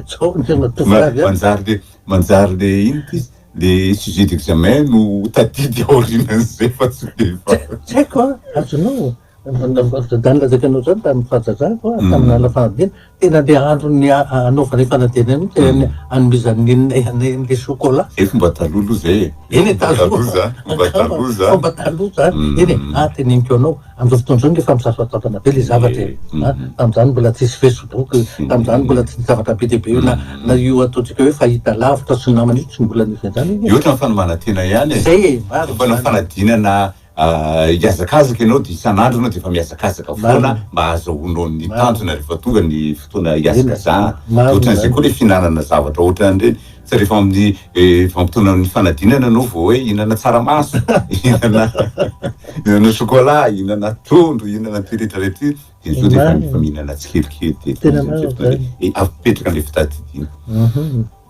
Zao no tena tofoka avy an! Manjary le, manjary le inona ity, le sujet d'examen no ho tadidy aorianan'izay fa tsy dia efa. Tsy haiko an! Azonao, Dadany lazaiko anao izany tamin'ny fahazazako an, tamin'ny ala fahaviana. Tena andeha andro ny hanaovana io fanadihadiana io, te hanomezan'i Nina ianay an'ilay chocolat. Zay fomba taloha aloha zay e. Eny e, taloha a. Fomba taloha zany. Fomba taloha zany. Eny e, ah teneniko anao, amin'izao fotoana izao nge efa misasoatoatana be le zavatra e. Ah, tamin'izany mbola tsisy facebook, tamin'izany mbola tsy nisy zavatra be dia be io, na io ataontsika hoe fahita lavitra sy ny namana io tsy mbola nisy an'izany anie. Io ohatran'ny fanomanantena ihany e. Zay e, marina zany. Fomba fanadinana Hiazakazaka ianao dia isan'andro ianao dia efa mihazakazaka foana mba hahazahoanao ny tanjona rehefa tonga ny fotoana hihazakazahana. Dia ohatran'izay koa ilay fihinanana zavatra ohatran'ireny, tsy rehefa amin'ny vanim-potoana amin'ny fanadinana ianao vao hoe hihinana tsaramaso, hihinana hihinana chocolat, hihinana trondro, hihinana an'ity rehetra rehetra ity, dia izao dia efa efa mihinana tsikelikely dia efa izy amin'izay fotoana izay avy mipetraka an'ilay fitadidiana.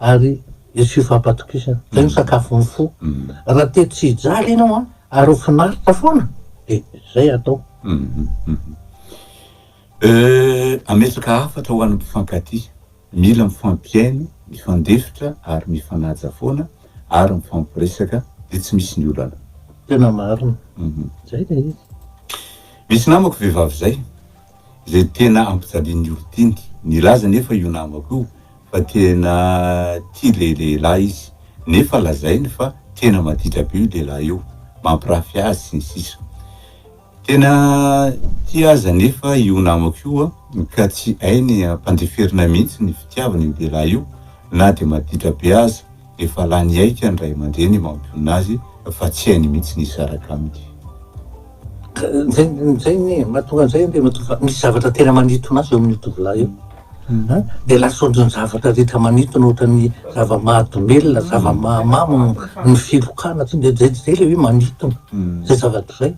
ary hisy fifampatokisana. Izay no sakafon'ny fo. Raha te tsy hijaly ianao an, ary ho finaritra foana, dia izay atao. Hametraka hafatra ho an'ny mpifankatia. Mila mifampihaino, mifandefitra ary mifanaja foana ary mifampiresaka dia tsy misy ny olana. Tena marina. Izay ilay izy. Misy namako vehivavy izay, Izay tena ampijalian'i Ortiny. Nilaza anefa io namako io fa tena tia ilay lehilahy izy, nefa lazainy fa tena maditra be io lehilahy io, mampirafy azy, sy ny sisa Tena tia azy anefa io namako io, ka tsy hainy ampandeferina mihitsy ny fitiavany io lehilahy io, na dia maditra be aza. Efa lany aika ny ray aman-dreny mampionona azy fa tsy hainy mihitsy ny hisaraka aminy. Izay anie e! Mahatonga an'izay anie matoa fa misy zavatra tena manintona azy eo amin'io tovolahy io. Dia lasa ohatran'ny zavatra rehetra manintona, ohatran'ny zava-mahadomelina, zava-mahamamo ny filokana, dia izay ilay hoe manintona izay zavatra izay.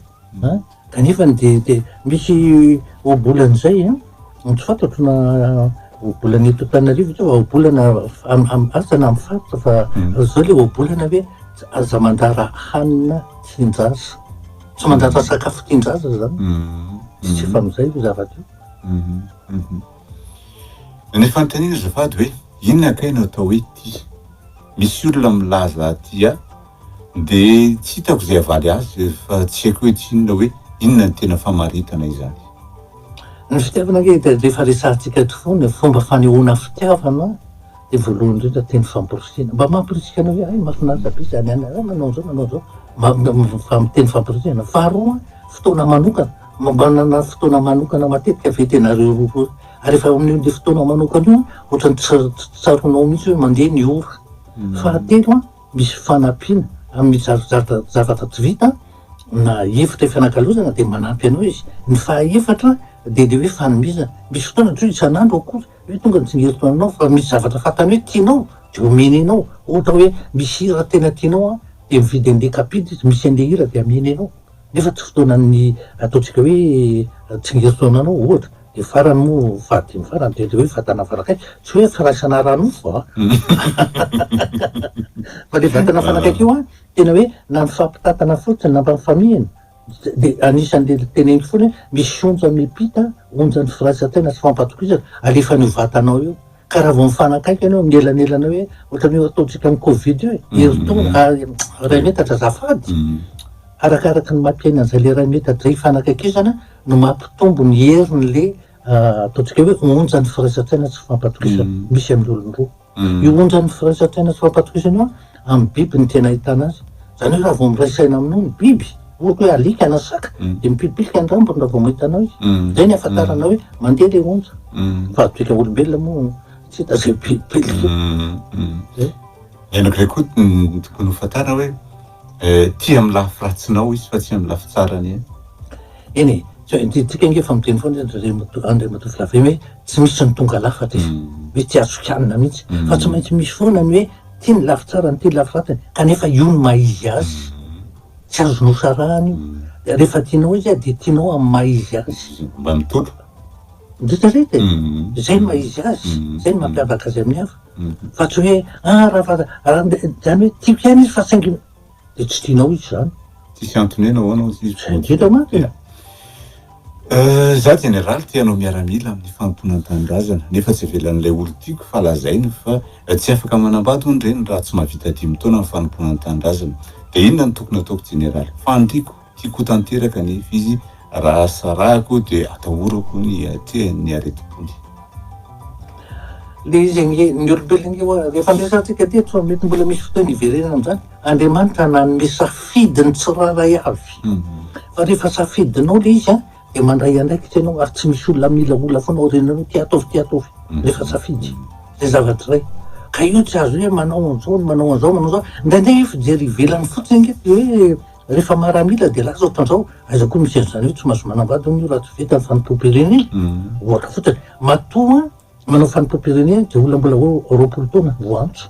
Kanefany dia dia misy ohabolana izay an, an tsy fantatro na ohabolana eto Antananarivo ve fa ohabolana am am asa na am faritra fa zao le ohabolana hoe aza mandara hanina tian-jaza, tsy mandara sakafo tian-jaza zany, tsy efa amizay io zava-teo. Ny fanontaniana azafady hoe inona kay no atao hoe tia? Misy olona milaza tia. Dia tsy hitako izay havaly azy fa tsy haiko hoe tsy inona hoe inona ny tena famaritana izany. Ny fitiavana ange dia rehefa resahantsika eto foana fomba fanehoana fitiavana dia voalohany indrindra teny famporisihana. Mba mamporisika anao hoe hay mahafinaritra be izany any hay manao an'izao manao an'izao mba teny famporisihana. Faharoa fotoana manokana, mba manana fotoana manokana matetika ve tenareo roa roa. Ary efa amin'io dia fotoana manokana io ohatran'ny tsy tsaroanao mihitsy hoe mandeha ny ora. Fahatelo an. misy fanampiana amin'ny zavatra tsy vita na efitra ifanakalozana dia manampy anao izy, ny fahaefatra dia le hoe fanomezana, misy fotoana ohatra hoe isan'andro akory hoe tonga ny tsingeritro aminao fa misy zavatra fantany hoe tianao dia omeny anao, ohatra hoe misy hira tena tianao an dia mividy an'le kapila izy misy an'le hira dia ameny anao. Nefa tsy fotoanan'ny ataontsika hoe tsingerintaona anao ohatra, dia farany moa fahadimy farany dia le hoe vatana fanakaiky, tsy hoe firaisana ara-nofo a! fa le vatana fanakaiky io an, tena hoe nampifampitantana fotsiny, nampamifamihina, dia anisan'le teneniko foana hoe misy onja miampita, onjan'ny firaisan-tsaina sy fampatokisana, alefan'io vatana ao io, Ka raha vao mifanakaiky anao amin'ny elanelana hoe ohatran'ny hoe ataontsika amin'ny covid io e, mm-hmm. herintaona ary ah, iray metatra azafady. Mm-hmm. Arakaraka ny mampiaina an'izay le iray metatra zay ifanakaikizana no mampitombo ny herin'le ah, ataontsika hoe onjan'ny firaisan-tsaina tsy fampatokisana mm-hmm. misy amin'ny olon-droa. Io onjan'ny firaisan-tsaina tsy fampatokisana io Amin'ny biby no tena ahitana azy. Izany hoe raha vao miray saina aminao ny biby, ohatra hoe alika na saka, dia mipilipilika ny rambony raha vao mahita anao izy. Izay no ahafantaranao hoe mandeha ilay onja. Fa antsika olombelona moa tsy hita izay mipilipilika. Zay. Ianak'ilay koa ny tokony hofantarina hoe tia amin'ny lafy ratsinao izy fa tsy amin'ny lafy tsarany ihany. Eny e, tsy hoe antsika ange efa miteny foana izy Andriamatoa Andriamatoa Flavien hoe tsy misy ny tonga lafatra izy. Hoe tsy azo kianina mihitsy. Fa tsy maintsy misy foana ny hoe Tia ny lafy tsarany, tia ny lafy ratsiny, kanefa io no maha izy azy, tsy azo nosarahana io. Rehefa tianao izy dia tianao amin'ny maha izy azy. Mba mitondra. Mieritrereta e! Izay no maha izy azy, izay no mampiavaka azy amin'ny hafa. Fa tsy hoe, ah, raha fa, izany hoe tiako ihany izy fa saingy. dia tsy tianao izy izany. Tsisy antony hoe nahoana hozy izy. Izay ngeda mantsy e. Izaho jeneraly te hanao miaramila amin'ny fanompoana ny tanindrazana, nefa tsy avelan'ilay olon-tiako fa lazainy fa tsy afaka manambady hono ireny raha tsy mahavita dimy taona ny fanompoana ny tanindrazana. Dia inona no tokony hataoko jeneraly? Fandriko. Tiako tanteraka anefa izy, raha sarahako dia atahorako ny hiatrehany ny aretim-pony. Ilay izy ange, ny olombelona ange hoa, rehefa niresahantsika teto fa mety mbola misy fotoana hiverenana amin'izany, Andriamanitra nanome safidy ny tsirairay avy. Fa rehefa safidinao ilay izy dia mandray andraikitra ianao ary tsy misy olona miolaola foana aoriananao hoe ty ataovy ty ataovy, rehefa safidy ilay zavatra iray. Ka io tsy azo hoe manao an'izao, manao an'izao, manao an'izao. Indraindray hoe fijery ivelany fotsiny ange dia hoe. Rehefa maramila dia lasa ohatra an'izao, aiza koa misy an'izany hoe tsy mahazo manambady hono io raha tsy vita ny fanompoam-pirenena, ohatra fotsiny. Matoa manao fanompoam-pirenena dia olona mbola ho roapolo taona vao antso.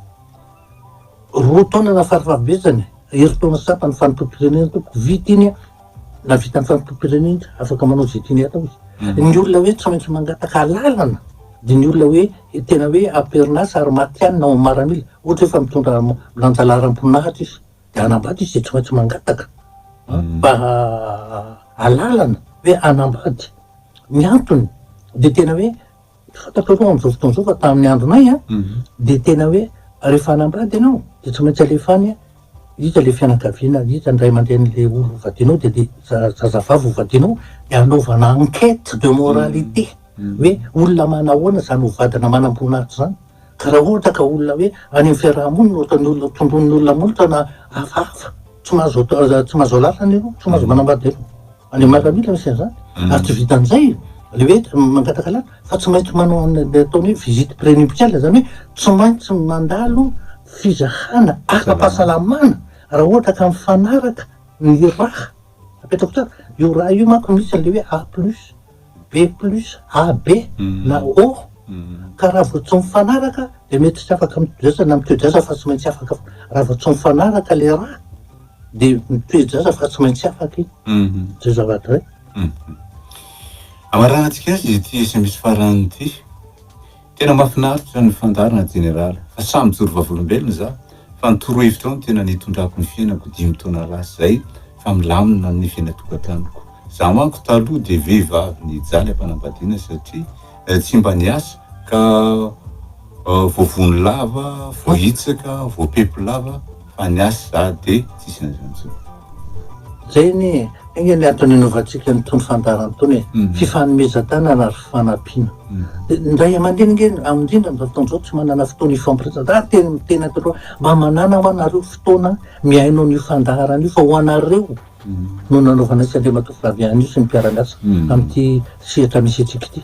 Roa taona na farafahabetsany, herintaona sasany ny fanompoam-pirenena tompoko, vita iny an! Na vita ny fanompoam-pirenena iny, afaka manao izay tiany atao izy. Ny olona hoe tsy maintsy mangataka alalana dia ny olona hoe tena hoe am-perinasa ary matihanina ao amin'ny maramila, ohatra hoe efa mitondra milanja laharam-po nahatra izy. de hanambady izy de tsy maintsy mangataka mba alalana hoe hanambady, ny antony de tena hoe fantatrareo am'zao fotoana zao fa tamin'ny andronay a de tena hoe rehefa hanambady ianao de tsy maintsy alefa any iza le fianakaviana, iza ny ray aman-drenin'le olona hovadianao de le zazavavy hovadianao de anaovana enquete de moralité hoe olona manahoana zany hovadina manam-boninahitra zany. Ka raha ohatra ka olona hoe any amin'ny fiaraha-monina ohatra ny olona tondroin'ny olona molotra na hafahafa, tsy mahazo tsy mahazo alalana ianao, tsy mahazo manambady ianao. Any amin'ny miaramila misy an'izany. Hmm. Ary tsy vitan'izay le hoe mangataka lalana fa tsy maintsy manao an'ilay ataony hoe visite prénuptiale, izany hoe tsy maintsy mandalo fizahana ara-pahasalamana raha ohatra ka mifanaraka ny raha Apetako tsara, io raha io manko misy an'ilay hoe A plus B plus AB na O ka raha vao tsy mifanaraka dia mety tsy afaka mitoejasa na mitoejasa fa tsy maintsy afaka raha vao tsy mifanaraka ilay raha dia mitoejasa fa tsy maintsy afaka i zay zava-dray. Amarahantsika azy ity sms farany ity. Tena mafinaritra ny fandaharana General fa samy mijoro vavolombelona za fa ny toro hevitrao no tena nitondrako ny fiainako dimy taona lasa zay fa milamina ny fiainatokatanoko za manko taloha de vehivavy nijaly ampanambadiana satria tsy mba niasa ka voavono lava voahitsaka voapepo lava fa ny ahy za de tsisy an'izany tsony. Zay anie e! Enga ny antony anovantsika an'itony fandaharana itony e! Fifanomezan-tanana ary fanampiana. Dia ny ray aman-dreny ange indrindra amin'izao fotoana izao tsy manana fotoana hifampiresa. Za ary tena miteny an'ireo hoe mba manàna hoa nareo fotoana mihaino an'io fandaharana io fa ho anareo no nanaovana azy sy Andriamatoa Flavian io sy ny mpiara-miasa amin'ity sehatra misy antsika ity.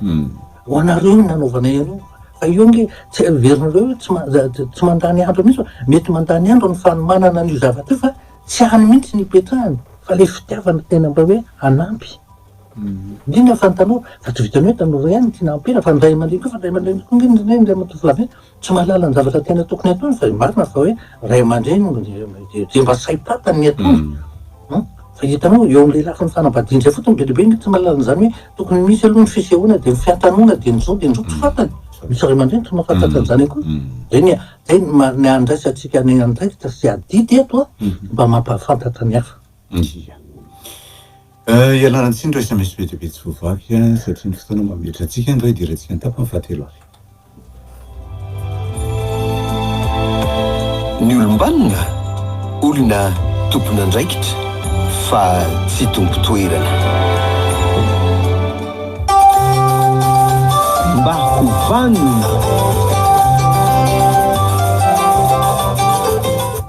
Ho anareo io nanaovanay an'io, fa io ange tsy heverinareo hoe tsy ma- tsy mandany andro mihitsy fa mety mandany andro ny fanomanana an'io zavatra io fa tsy any mihitsy ny ipetrahany fa ilay fitiavana tena mba hoe hanampy. Indrindra fa ny tanora, fa tsy vitan'ny hoe tanora ihany ny tiana ampera fa ny ray aman-dreny koa, fa ny ray aman-dreny koa ange ny ray aman-dreny, ray aman-tovolahy be, Tsy mahalala ny zavatra tena tokony hataony fa marina fa hoe ray aman-dreny dia mba saim-pantany ny ataony fa hitanao eo amin'ny lelafo ny fanambadiana izay fotony be dia be ny tsy mahalala an'izany hoe tokony misy aloha ny fisehoana dia ny fiantanona dia ny zao dia ny zao tsy fantany misy ray aman-dreny tsy mahafantatra an'izany akory dia ny dia ny handraisantsika ny andraikitra sy adidy eto mba mampahafantatra ny hafa Iya. Ialana tsiny ry sms be dia be tsy voavaky a, satria ny fotoana mametra antsika angaha idirantsika ny tapany fahatelo ary. Ny olom-banona, olona tompon'andraikitra fa tsy tompo toerana. Mba ho vanona.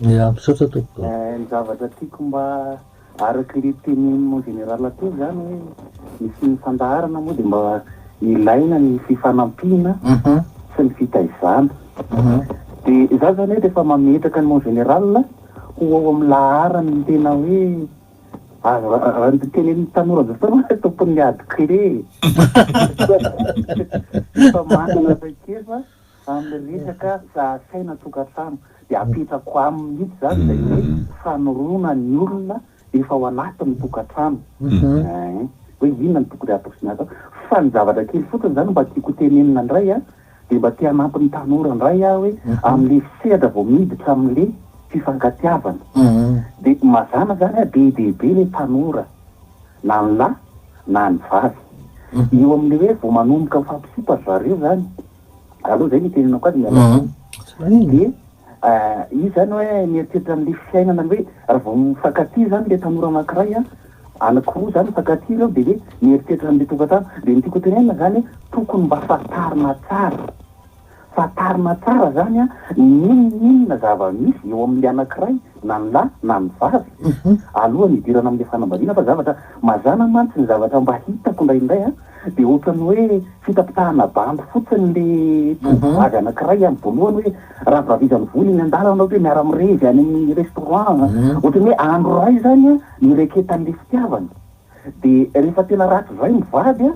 Miha misaotra tompoko. Eh, ny zavatra tiako mba araky le tenin mon général teo zany hoe ny tsy ny fandaharana moa de mba ilaina ny fifanampiana sy ny fitaizana. De za zany hoe refa mametraka ny mon général ho ao am laharany ny tena hoe azo raha ny tenenin ny tanora amzao fotoana hoe tompon ny ady kle e! Efa manana traikefa. Amin'ny resaka fiahasaina tokantrano dia apetrako aminy mihitsy izany ilay hoe fanorona ny olona efa ao anatin'ny tokantrano ee, hoe inona no tokony hatao sy ny hatao. Fa ny zavatra kely fotsiny izany mba tiako hotenenina indray an, dia mba te hanampy ny tanora indray aho hoe amin'le sehatra vao miditra amin'le fifankatiavana dia mazàna izany hoe be dia be ilay tanora na ny lahy na ny vavy eo amin'le hoe vao manomboka mifampisipa ry zareo izany Allo, zay ny itenenako azy mialà an! de izy zany hoe mieritreritra an'le fiainana hoe raha vao mifankatia zany le tanora anankiray an, anankiroa zany mifankatia reo de hoe mieritreritra an'le tokantrano, de ny tiako hotenenina zany hoe tokony mba fantarina tsara, fantarina tsara zany an n'inon'inona zava-misy eo amin'le anankiray na ny lahy na ny vavy alohan'ny hidirana am'le fanambadiana fa zavatra mazàna mantsy ny zavatra mba hitako indraindray an, tsy dia ohatran'ny hoe fitapitahana bandy fotsiny ilay tovovavy anankiray amin'ny voalohany hoe raha vavizan'ny vola eny an-dalana ohatra hoe miara-mirevy any amin'ny restaurant a, ohatran'ny hoe andro iray izany a nireketan'ilay fitiavana. Dia rehefa tena ratr'izay ny vady a,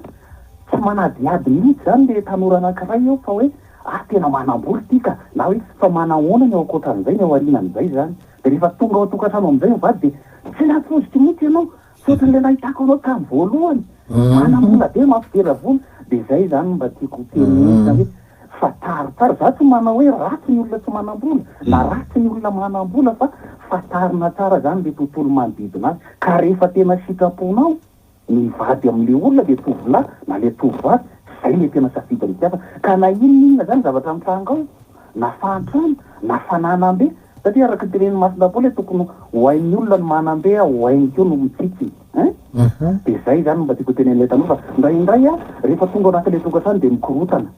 tsy manadihady mihitsy izany ilay tanora anankiray eo fa hoe ah tena manam-bola ity ka, na hoe fa manahoana ny ao ankoatran'izay, ny ao aorianan'izay izany. Dia rehefa tonga ao an-tokantrano amin'izay ny vady dia tsy nampoiziko mihitsy ianao, Tsy ohatry le nahitako anao tam voalohany manambola be mafy dera vola de zay zany no mba tiako ho tenenina hoe fa taro taro za tsy manao hoe ratsy ny olona tsy manambola na ratsy ny olona manambola fa fatarina tsara zany le tontolo manodidina azy ka refa tena sitraponao mivady am le olona le tovolahy na le tovovavy zay le tena safidiny tiavana ka na inona inona zany zavatra mitranga ao na fahantrana na fananam be Satria araka ny tenenin'i Masina Paoly tokony ho hain'ny olona ny manambe aho, ho hainy koa no mitsitsy eh! dia zay zany no mba tiako hotenenin'ilay tanora, indraindray ah rehefa tonga ao anatin'ilay tokantrano dia mikorotana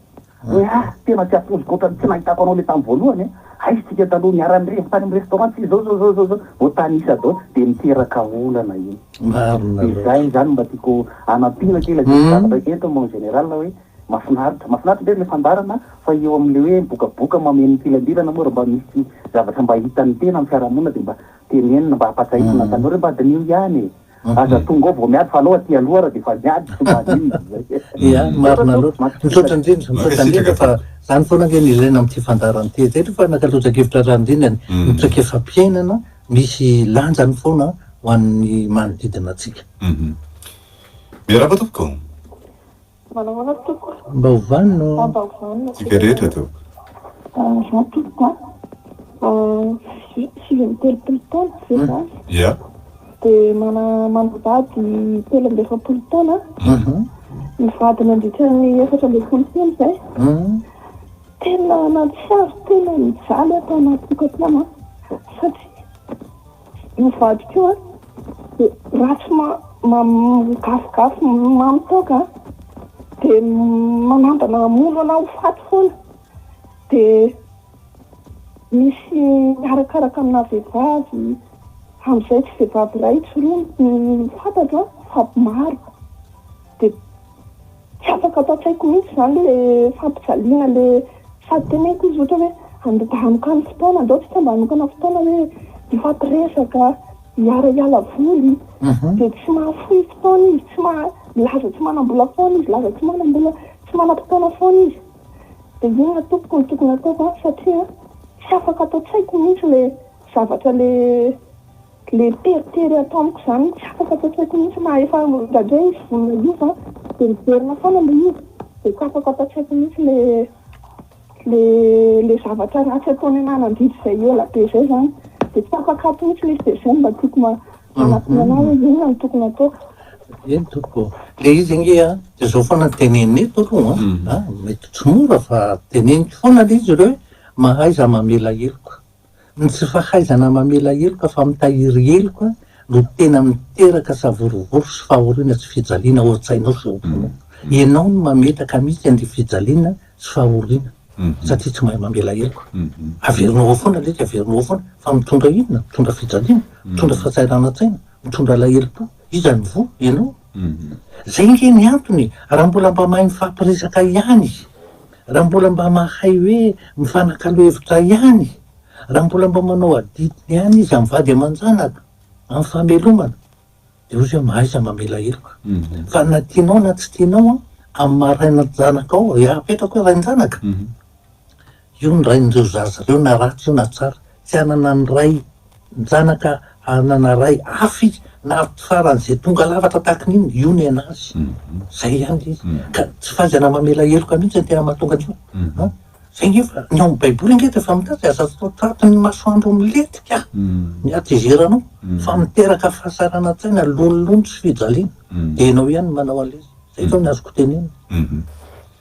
hoe ah tena tsy atoziko ohatran'ny tsy nahitako anao ilay tamin'ny voalohany eh! aiza tsika taloha niara-nirevy tany amin'ny restaurant tsika zao zao zao zao zao vao tanisa zao dia miteraka olana iny, dia zay zany mba tiako hanampiana kay ilay zavatra entiny mon général hoe. Mafinaritra, mafinaritra indray ilay fandaharana fa eo amin'ilay hoe mibokaboka mameno mikilanbilana moa raha mba misy zavatra mba hitan'ny tena amin'ny fiarahamonina dia mba tenenina mba hampatsahivina ny tanora hoe mba diniho ihany e! Aza tonga ao vao miady fa alao aty aloha raha dia efa niady tsy mba adino izy izay. Ia, marina loatra. Misaotra indrindra, misaotra indrindra fa izany foana ange no ilaina amin'ity fandaharana ity. Izay aloha fa nankatoajan-kevitra raha nindrina ny traikefam-piainana misy lanjany foana ho an'ny manodidina antsika. Miarahaba tompoko. Manao ahoana ry tompoko? Mba ho vanona ô! Mba ho vanona aho. Tsika rehetra tompoko. Za tompoko a, sivy amby telopolo taona ve za? Ia. Dia manana vady telo amby efapolo taona aho. Nivady nandritra ny efatra ambin'ny folo taona izay. Tena nahatsiaro tena nijaly aho tao anaty tokantrano satria. Io vadiko io an de ratsy ma migafigafy mamy toaka an de manambana hamono anah ho faty foana de misy miarakaraka amina vehivavy hamizay tsy vehivavy iray tsy roa ny fantatro an fa maro de. Tsy afaka ato an-tsaiko mihitsy izany le fampijaliana le sady teneniko izy ohatra hoe andoka-anokano fotoana andao tsika mba hanokana fotoana hoe hifampiresaka, hiara hiala voly dia tsy mahafoy fotoana izy, tsy maha laza tsy manam-bola foana izy, laza tsy manam-bola, tsy manam-potoana foana izy dia inona tompoko no tokony hataoko an satria tsy afaka ato an-tsaiko mihitsy le zavatra le Le teritery ato amiko izany tsy afaka tsasaiko mihitsy na efa indraindray izy vonona hiova an dia miverina foana le izy dia tsy afaka tsasaiko mihitsy le le le zavatra ratsy ataony anah nandidy izay ela be izay izany dia tsy afaka ato mihitsy le izy dia izay no mba tiako ma manatona anah hoe inona no tokony ataoko. Eny tompoko ô, le izy ange an dia izao foana no teneniny eto aloha an, mety tsy mora fa teneniko foana le izy ireo hoe mahaiza mamela heloka Ny tsy fahaizana mamela heloka fa mitahiry heloka no tena miteraka savorovoro sy fahoriana tsy fijaliana ao an-tsainao sy ao am-ponao. Ianao no mametaka mihitsy an'ilay fijaliana sy fahoriana satria tsy mahay mamela heloka. Averinao ao foana lesy, averinao ao foana fa mitondra inona? Mitondra fijaliana, mitondra fahasahiranantsaina, mitondra alahelom-po. Iza no voa? Ianao. Izay ange ny antony e! Raha mbola mba mahay mifampiresaka ihany Raha mbola mba mahay hoe mifanakalo hevitra ihany, raha mbola mba manao adidiny ihany izy amin'ny vady aman-janaka, amin'ny famelomana, dia hozy hoe mahaiza mamela heloka. Fa na tianao na tsy tianao an, amin'ny maha rain-janakao, dia apetrako hoe rain-janaka, io ny rain'ireo zaza ireo na ratsy io na tsara. Tsy hanana ny ray Nijanaka ary nanaray afo izy, navy farany izay tonga lafatra tahaka ny inona, io ny an'azy. Izay ihany ilay izy. Ka tsy fahaizana mamela heloka mihitsy ny tena mahatonga an'io. Izay ange fa ny ao amin'ny Baiboly ange dia efa miteny hoe aza atao tratry ny masoandro milentika ny hatezeranao, fa miteraka fahasaranan-tsaina, lonilony sy fijaliana. Dia ianao ihany no manao an'ilay izy. Izay izao ny azoko tenenina.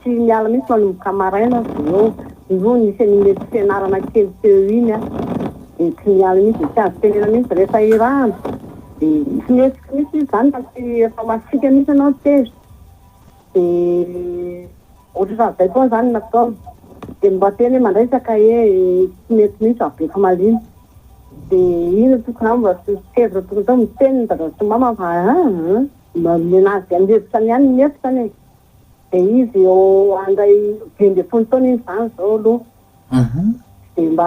Tsy miala mihitsy manomboka maraina aza eo. Irony misy an'iny fianarana kely teo iny an, dia tsy miala mihitsy, dia tsy azo tenena mihitsy. Rehefa irahana dia tsy mihetsika mihitsy izy izany fa tsy, efa masiaka mihitsy ianao ny tezitra. Dia ohatra raha izay foana izany no nataony. Dia mba teny hoe mandraisaka ee, tsy mety mihitsy raha be famaliana. Dia inona tokony hatao mba tsy tezitra tokony hatao? Miteny ny dada sy ny mama fa aa, manome an'azy amin'ny hevitra ny ahy ny efitra anie. Dia izy eo handray dimy ambin'ny folo taona izy izany izao aloha. Dia mba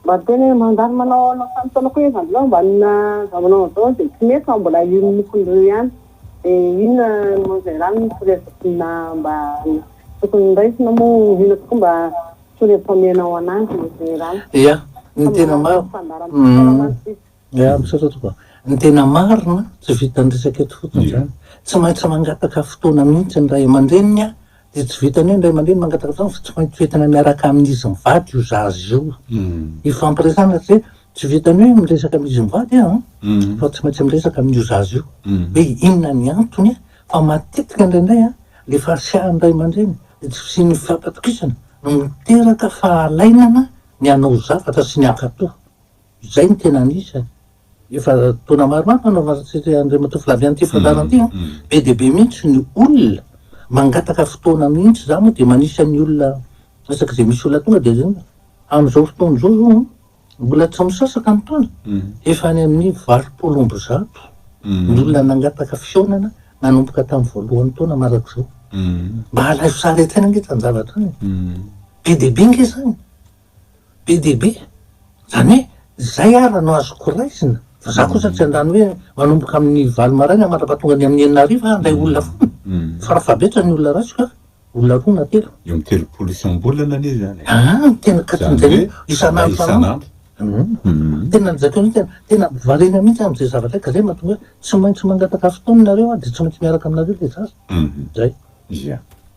mba miteny hoe mandalo manao anao samy taona koa izy amin'izao mba inona zao manao an'izao dia tsy mety fa mbola io mokony roa io ihany. Dia inona moa izay rano no torohevin-na mba tokony horaisina moa inona tokoa mba torohevitra omenao an'azy moa izay rano. Ia, ny tena marina. Ya, misaotra tompoko a. Ny tena marina, tsy vitan'ny resaka eto fotsiny izany. Tsy maintsy mangataka fotoana mihitsy ny ray aman-dreniny a, dia tsy vitan'ny hoe ny ray aman-dreny mangataka fotoana fa tsy maintsy toetina miaraka amin'izy mivady io zaza io hifampiresahana satria tsy vitan'ny hoe miresaka amin'izy mivady an, fa tsy maintsy miresaka amin'io zaza io hoe inona ny antony a, fa matetika indraindray a, ilay fahasiahan'ny ray aman-dreny, ilay tsy fisian'ny fifankatokisana no miteraka fahalainana ny hanao zavatra sy ny hankatò. Izay no tena anisany. Efa taona maromaro no nanatanteraka Andriamatoa Flavien ity fandaharana ity. Be dia be mihitsy ny olona mangataka fotoana mihitsy. Izaho moa dia manisan'ny olona isaky izay misy olona tonga dia izay no. Amin'izao fotoana izao izao mbola tsy misasaka ny taona, efa any amin'ny valopolo amby zato ny olona nangataka fihaonana nanomboka tamin'ny voalohan'ny taona mandrakizao. Mba alaivo sary hatrany ange izany zavatra izany e! Be dia be ange izany. Be dia be, izany hoe izay ara no azoko raisina, fa za kosa tsy handany hoe manomboka amin'ny valo maraina mandrapaha tonga any amin'ny enina hariva aho handray olona foana, fa raha fahabetra ny olona raisiko a, olona roa na telo. Eo amin'ny telopolo isam-bolana anie izany e! Aa, ny tena katon'izay hoe isan'andro isan'andro. Hum, tena an'izay koa mihitsy, tena variana mihitsy aho amin'izay zavatra izay, ka izay no mahatonga hoe tsy maintsy mangataka fotoana ianareo aho dia tsy maintsy miaraka aminareo ilay zaza. Hum, izay. Ia.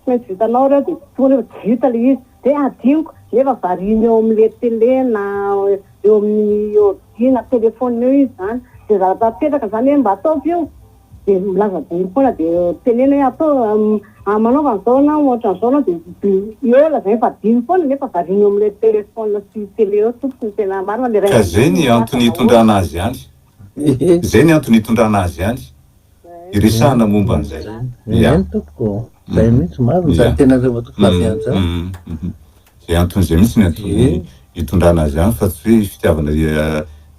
Tsy maintsy vitanao reo de toa anie efa tsy vita le izy de adinoko nefa variana eo amle tele na eo amin'ny ordi na telephone eo izy zany de zavatra apetraka zany hoe mba ataovy io de milaza adinoko foana de teneno hoe ataovy manaova an'zao na ohatran'zao anao de eo lazainy fa adinony foana nefa variana eo amle telephone sy tele eo tompoko ny tena marina le rainy Ka zay ny antony itondrana azy any Zay ny antony itondrana azy any iresahana momba an'izay. Izay no tompoko ô. Izay mihitsy, maro ny tany tena reo matoa fa zay aza. Izay antony izay mihitsy ny antony itondrana azy any fa tsy hoe fitiavana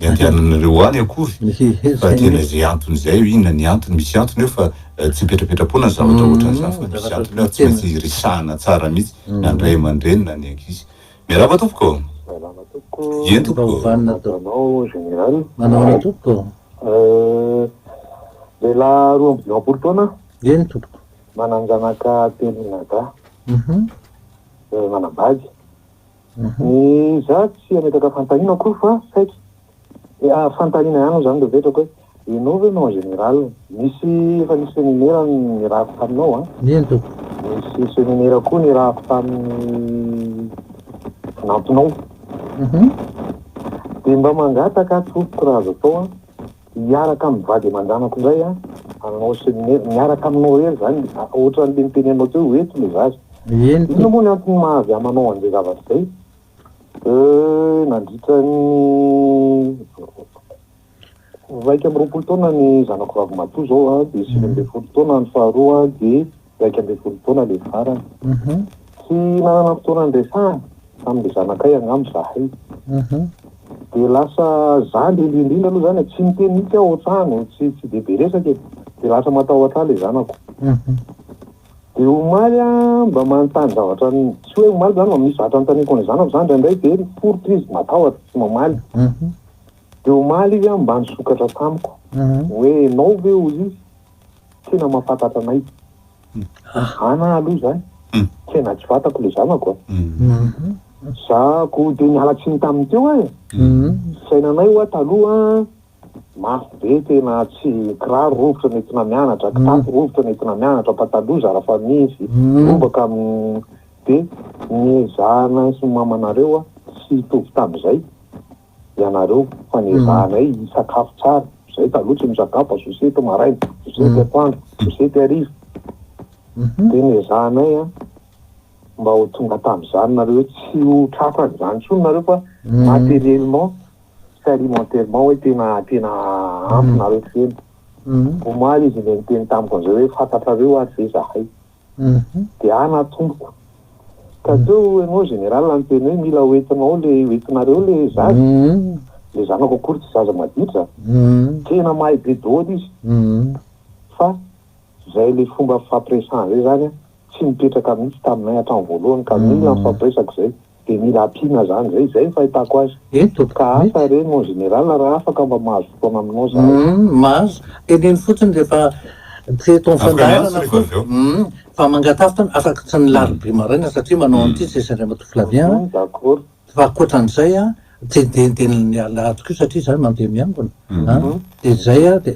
iandehananareo ho any akory fa tena izay antony izay hoe inona ny antony, misy antony eo fa tsy mipetrapetra-poana ny zavatra ohatran'izany fa misy antony eo ary tsy maintsy iresahana tsara mihitsy na ny ray aman-dreny na ny ankizy. Miarahaba tompoko. Salama tompoko. Eny tompoko. Mba ovanina to. Anao général. Manao ny tompoko. Euh, lehilahy roa amby dimampolo taona. Eny tompoko. Manan-janaka telo mianadahy. Mhm. Euh, manambady. Mhm. Ny za tsy hametraka fanontaniana akory fa saiky. Dia fantarina ihany moa izany ilay vetrako hoe ianao ve no en général? Nisy efa nisy seminera nirahako taminao an! Eny tompoko. Nisy seminera koa nirahako tamin'ny namponao. Uhum. Dia mba mangataka aho tompoko raha azo atao an, hiaraka amin'ny vady aman-janako indray an, hanao seminera, miaraka aminao irery izany, ohatran'ilay niteny anao teo hoe ho eto ilay zaza. Eny tompoko. Inona moa ny antony maha avy amanao an'izay zavatra izay? Eh, nandritra ny iraika amby roapolo taona ny zanako vavimatoa izao an, dia sivy ambin'ny folo taona ny faharoa an, dia iraika ambin'ny folo taona ilay farany. Mhm. Tsy nanana fotoana niresahana tamin'ilay zanakay angamba izahay. Mhm. Dia lasa izaho indrindra indrindra aloha izany e, tsy niteny mihitsy aho ohatrany, tsy tsy dia be resaka e, dia lasa matahotra ahy ilay zanako. Mhm. Dia omaly aho mba manontany zavatra tsy hoe omaly izany fa misy zavatra anontaniako an'ilay zanako izany indraindray dia miporitra izy, matahotra, tsy mamaly. Dia omaly izy mba nisokatra tamiko hoe ianao ve hoy izy tena mahafantatra anay? Ana aho aloha izany tena tsy fantako ilay zanako a! Izaho koa dia niala tsiny tamin'ny teo aho e! Fisainanay ho'a taloha Mafy be tena tsy kiraro rovitra nentina mianatra, kitapo rovitra nentina mianatra, pataloha zara fa misy, lobaka dia ny ezahanay sy ny mamanareo tsy hitovy tamin'izay ianareo fa ny ezahanay hisakafo tsara, zay taloha tsy misakafo fa sosety maraina, sosety atoandro, sosety hariva, dia ny ezahanay mba ho tonga tamin'izany nareo hoe tsy ho tratra an'izany intsony nareo fa materiellement Tsy alimentairement hoe tena tena ampy nareo feno. Omaly izy ilay niteny tamiko an'izay hoe fantatrareo ary ve zahay. Dia ahy na tompoko. Ka teo ianao général no niteny hoe mila ho entinao ilay ho entinareo ilay zaza. Ilay zanako akory tsy zaza maditra. Tena mahay be daholo izy. Fa izay ilay fomba fifampiresahana izay izany tsy nipetraka mihitsy taminay hatramin'ny voalohany ka mila nifampiresaka izay. Dia mila ampiana zany ve izay ny fahitako azy. Eto, Ka asa mety. re mon général raha afaka mba mahazo fotoana aminao zahay. Humm mahazo, teneno fotsiny rehefa tsy eto amin'ny Afaka miantso fandaharana rehefa avy eo. foana. Humm fa mangatafy tany afaka tsy ny larobia maraina satria manao an'ity tsisy Andriamatoa Flavien an. Mhm, d'accord. Fa ankoatran'izay an, tsy dia dia ny alahady koa satria izaho mandeha miangona an. Mhm. Dia izay an, dia.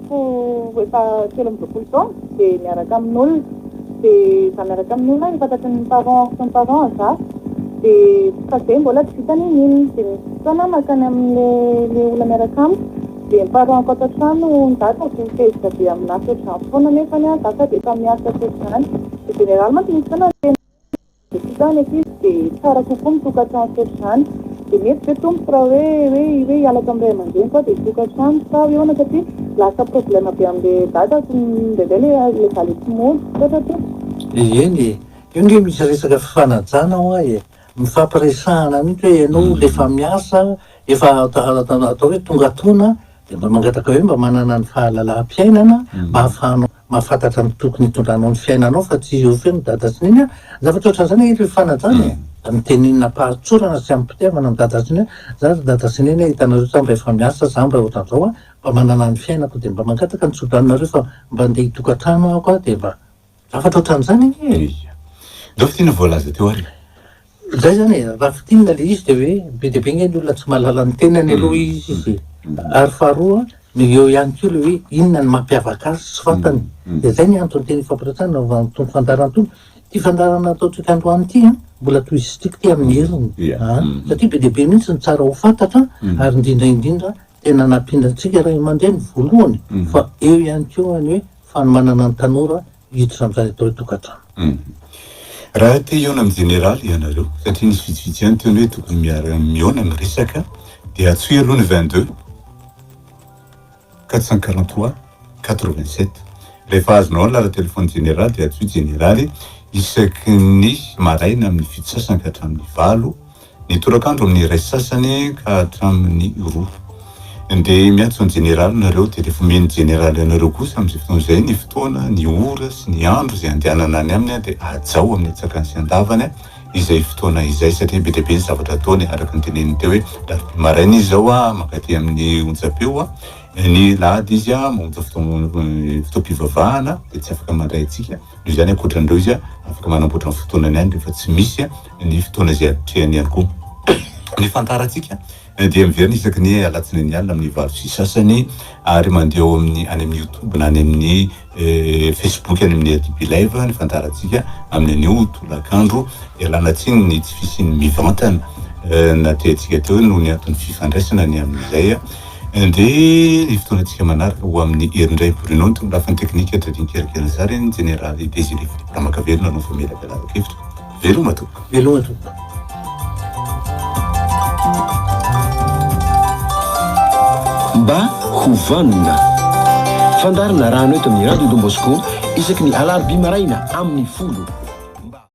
Ho efa telo amby roapolo taona dia miaraka amin'olona dia za miaraka amin'ny olona efa tratry ny parents sy ny parents za dia fa zay mbola tsy vita ny nino dia misy fotoana aho makany amin'le le olona miaraka amiko dia ny parents ko ato an-trano ny dadako dia mitezitra be amin'asa ohatr'izany foana nefany an za sady efa miasa sy ohatr'izany de généralement misy fotoana ny tena Satria zany ankizy dia tsara kokoa ny tokantrano ohatr'izany. Dia mety ve tompoko raha hoe hoe hoe hiala tamin'ny ray aman-dreniko aho dia hitoka trano sa hoe ahoana satria lasa problème be amin'ilay dadako indraindray ilay ilay valiha tsy mody. Misaotra tompoko. Dia eny e! Io nge misy resaka fifanajana hoa e! Mifampiresahana mihitsy hoe ianao olona efa miasa, efa atao hoe tonga taona dia mba mangataka hoe mba manana ny fahalalaham-piainana mba ahafahanao mahafantatra ny tokony hitondranao ny fiainanao fa tsy eo feno dada sy neny a! zavatra ohatran'izany angety hoe fanajana e! mitenena am-pahatsorana sy am-pitiavana ny dada sy neny hoe za ry dada sy neny a! hitanareo tsa mba efa miasa za mba ohatran'izao a! mba manana ny fiainako dia mba mangataka ny tsodraninareo fa mba andeha hitokantrano aho aho dia mba zavatra ohatran'izany anie e! Ia. Ndao fintin'ny voalaza teo ary e! Zay zany e, raha fintinina le izy de hoe be dia be ange ny olona tsy mahalala ny tenany aloha izy izy e. Ary faharoa dia eo ihany koa le hoe inona no mampiavaka azy tsy fantany. Dia zay ny antony tena ifampiretsahana nanaovan'ny Tompo fandaharana tony. Ity fandaharana ataontsika androany ity an, mbola to izy stick ity amin'ny heriny an, satria be dia be mihitsy ny tsara ho fantatra an, ary indrindra indrindra tena nampiana antsika ray aman-dreny voalohany fa eo ihany koa ny hoe fanomanana ny tanora, hiditra amin'izany atao hoe tokantrano. Raha te hihaona amin'ny jeneraly ianareo, satria nisy vitsivitsy ihany teo ny hoe tokony miara mihaona ny resaka, dia antsoy aloha ny 22 443 87. Rehefa azonao ny lalan-telefaonin'ny jeneraly dia antsoy jeneraly isaky ny maraina amin'ny fito sasany ka hatramin'ny valo ny torak'andro amin'ny iray sasany ka hatramin'ny roa. Dia miantso ny jeneraly nareo dia rehefa omen'ny jeneraly anareo kosa amin'izay fotoana izay ny fotoana, ny ora sy ny andro izay andehanana any aminy dia hajao amin'ny antsakany sy andavany izay fotoana izay satria be dia be ny zavatra ataony araka ny teneniny teo hoe alarobia maraina izy izao a mankaty amin'ny onjam-peo a ny lahady izy a mamonja fotoam-pivavahana dia tsy afaka mandray antsika noho izany ankoatran'ireo izy afaka manamboatra ny fotoanany any rehefa tsy misy ny fotoana izay atrehany ihany koa. Ny fandaharantsika dia miverina isaky ny alatsinainy alina amin'ny valo sy sasany ary mandeha ao amin'ny any amin'ny youtube na any amin'ny eh, facebook any amin'ny adb live ny fandaharantsika amin'ny anio tolakandro ialana tsiny ny tsy fisian'ny mivantana eh, na teantsika teo noho ny antony fifandraisana ny amin'izay eh, dia ny fotoanantsika manaraka ho amin'ny herindray Bruno ny tony lafiny teknika Dredin Kery Kerizary ny jeneraly Désiré Philippe Ramakavelo nanao famelabelaran-kevitra Veloma tompoko. Veloma tompoko. Mba ho vanona. Fandaharana rano eto amin'ny Radio Don Bosco isaky ny alarobia maraina amin'ny folo.